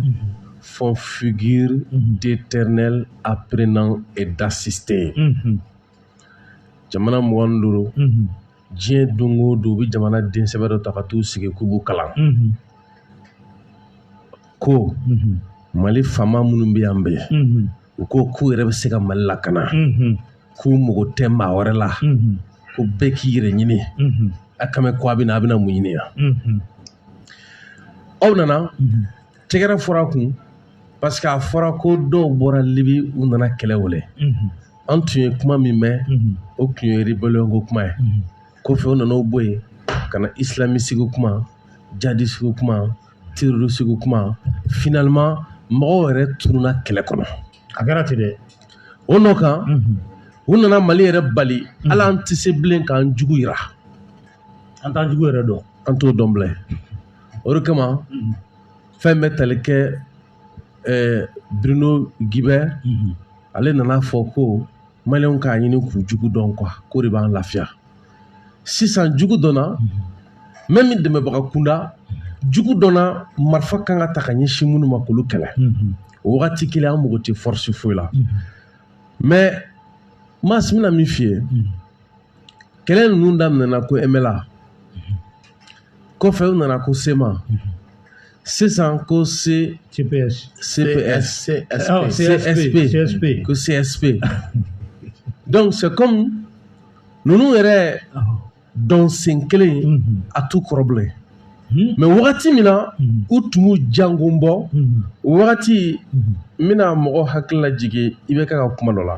font figure d'éternels apprenants et d'assistés jamana mugan ni duuru diɲɛ don o don u bɛ jamana den sɛbɛ dɔ ta ka taa u sigi k'u b'u kalan ko mali fama minnu bɛ yan bɛɛ u ko k'u yɛrɛ bɛ se ka mali lakana k'u mago tɛ maa wɛrɛ la ko bɛɛ k'i yɛrɛ ɲini a kan bɛ ko a bɛ na a bɛna mun ɲini yan aw nana tɛgɛrɛ fɔra kun parce que a fɔra ko dɔw bɔra libi u nana kɛlɛ wele an tun ye kuma min mɛn o tun ye rebeliyɔnko kuma ye kɔfɛ u nana o bɔ yen ka na isilamisiko kuma jadisiko kuma terorisiko kuma finalement mɔgɔw yɛrɛ tununa kɛlɛ kɔnɔ a kɛra ten
dɛ o nɔ
kan u nana mali yɛrɛ bali a la an tɛ se bilen k'an jugu yira
an t'an jugu yɛrɛ dɔn an t'o dɔn bilen
o de kama fɛn bɛ tali kɛ ɛɛ Bruno Guibert ale nana fɔ ko maliyɛnw k'a ɲini k'u jugu dɔn quoi k'o de b'an lafiya sisan jugu dɔnna même dɛmɛbaga kunda jugu dɔnna marifa kan ka ta ka ɲɛsin minnu ma k'olu kɛlɛ o wagati kelen an mago tɛ force foyi la mais maa si bɛna min f'i ye kɛlɛ ninnu daminɛna ko MNLA kɔfɛ u nana ko CMA sisan ko se CPS CPS CSP CSP ko CSP donc c'est comme ninnu yɛrɛ dɔnsen kelen a t'u kɔrɔ bilen Hmm? mais wagati min na hmm. u tun b'u jangon bɔ hmm. wagati n bɛna mɔgɔ hakili lajigin IBK ka kuma dɔ la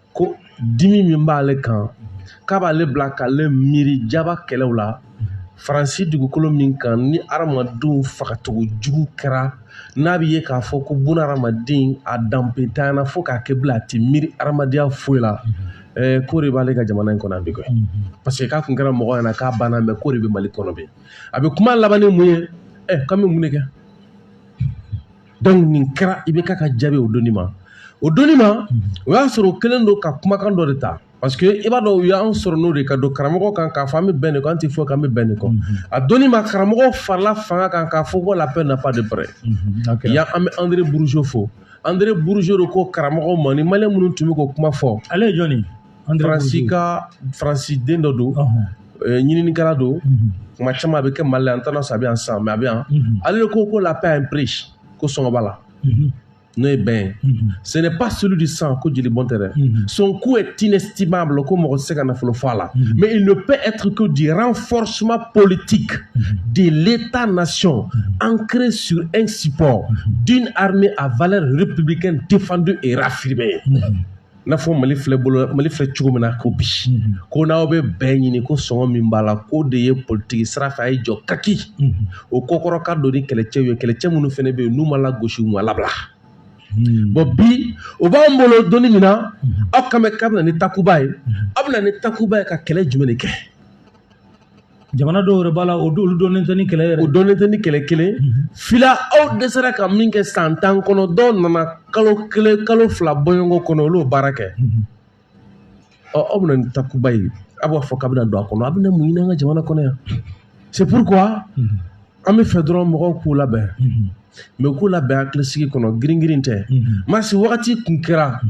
ko dimi min b'ale kan k'a b'ale bila k'ale miiri jaba kɛlɛw la faransi dugukolo min kan ni adamadenw fagacogo jugu kɛra n'a bɛ ye k'a fɔ ko buna adamaden a danbentanyana fo k'a kɛ bila a tɛ miiri adamadenya foyi la ɛɛ k'o de b'ale ka jamana in kɔnɔ yan bi koyi parce que k'a kun kɛra mɔgɔ ɲɛna k'a banna mais k'o de bɛ mali kɔnɔ bi a bɛ kuma laban ni mun ye ɛ k'an bɛ mun de kɛ donc nin kɛra IBK ka jaabi o doni ma o doni ma o y'a sɔrɔ o kɛlen don ka kumakan dɔ de ta parce que i b'a dɔn u y'an sɔrɔ n'o de ka don karamɔgɔ kan k'a fɔ an bɛ bɛn nin kan an tɛ fɔ k'an bɛ bɛn nin kɔ a doni ma karamɔgɔ farala fanga kan k'a fɔ ko la paix n'a pas de prix yan an bɛ André Bourgeot fo André Bourgeot de ko karamɔgɔ ma ni maliyɛn minnu tun bɛ k'o kuma fɔ ale ye jɔni ye
faransi ka
faransi den dɔ don ɲininikɛla don kuma caman a bɛ kɛ mali la an t'a dɔn a bɛ yan sisan mais a bɛ yan ale de ko ko la paix a un prix ko sɔngɔ b'a la n'o ye bɛn ye ce n'est pas celui du sang ko jeli bɔn tɛ dɛ son coût est inestimable ko mɔgɔ tɛ se ka nafolo fɔ a la mais il ne peut être que du renforcement politique de l'état nation ancré sur un support d'une armée à valeur républicaine défendue et raffirmée n'a fɔ mali filɛ bolo mali filɛ cogo min na ko bi ko n'aw bɛ bɛn ɲini ko sɔngɔ min b'a la k'o de ye politiki sira fɛ a ye jɔ kaki o kɔkɔrɔ ka don ni kɛlɛcɛw ye kɛlɛcɛ minnu fana bɛ yen n'u ma lagosi u ma labila bon bi o b'an bolo don min na aw kan bɛ k'a bɛna ni takuba ye aw bɛna ni takuba ye ka kɛlɛ jumɛn de kɛ
jamana dɔw yɛrɛ b'a la o olu dɔnnen tɛ ni kɛlɛ yɛrɛ o dɔnnen tɛ ni
kɛlɛ kelen fila aw dɛsɛra ka min kɛ san tan kɔnɔ dɔw nana kalo kelen kalo fila bɔɲɔgɔn kɔnɔ olu baara kɛ ɔ aw bɛna ni takuba ye aw b'a fɔ k'a bɛna don a kɔnɔ aw bɛna mun ɲini an ka jamana kɔnɔ yan c'est pourquoi an b'a fɛ dɔrɔn mɔgɔw k'u labɛn mais k'u labɛn hakilisigi kɔnɔ giringirin tɛ masi wagati kun kɛra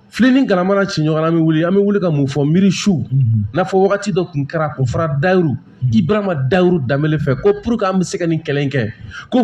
Filen ni galama na ci ɲɔgɔn na an bɛ wuli an bɛ wuli ka mun fɔ miiri su n'a fɔ wagati dɔ tun kɛra ko fara Dayiru Ibarahima Dayiru Danbele fɛ ko pour que an bɛ se ka nin kɛlɛ in kɛ ko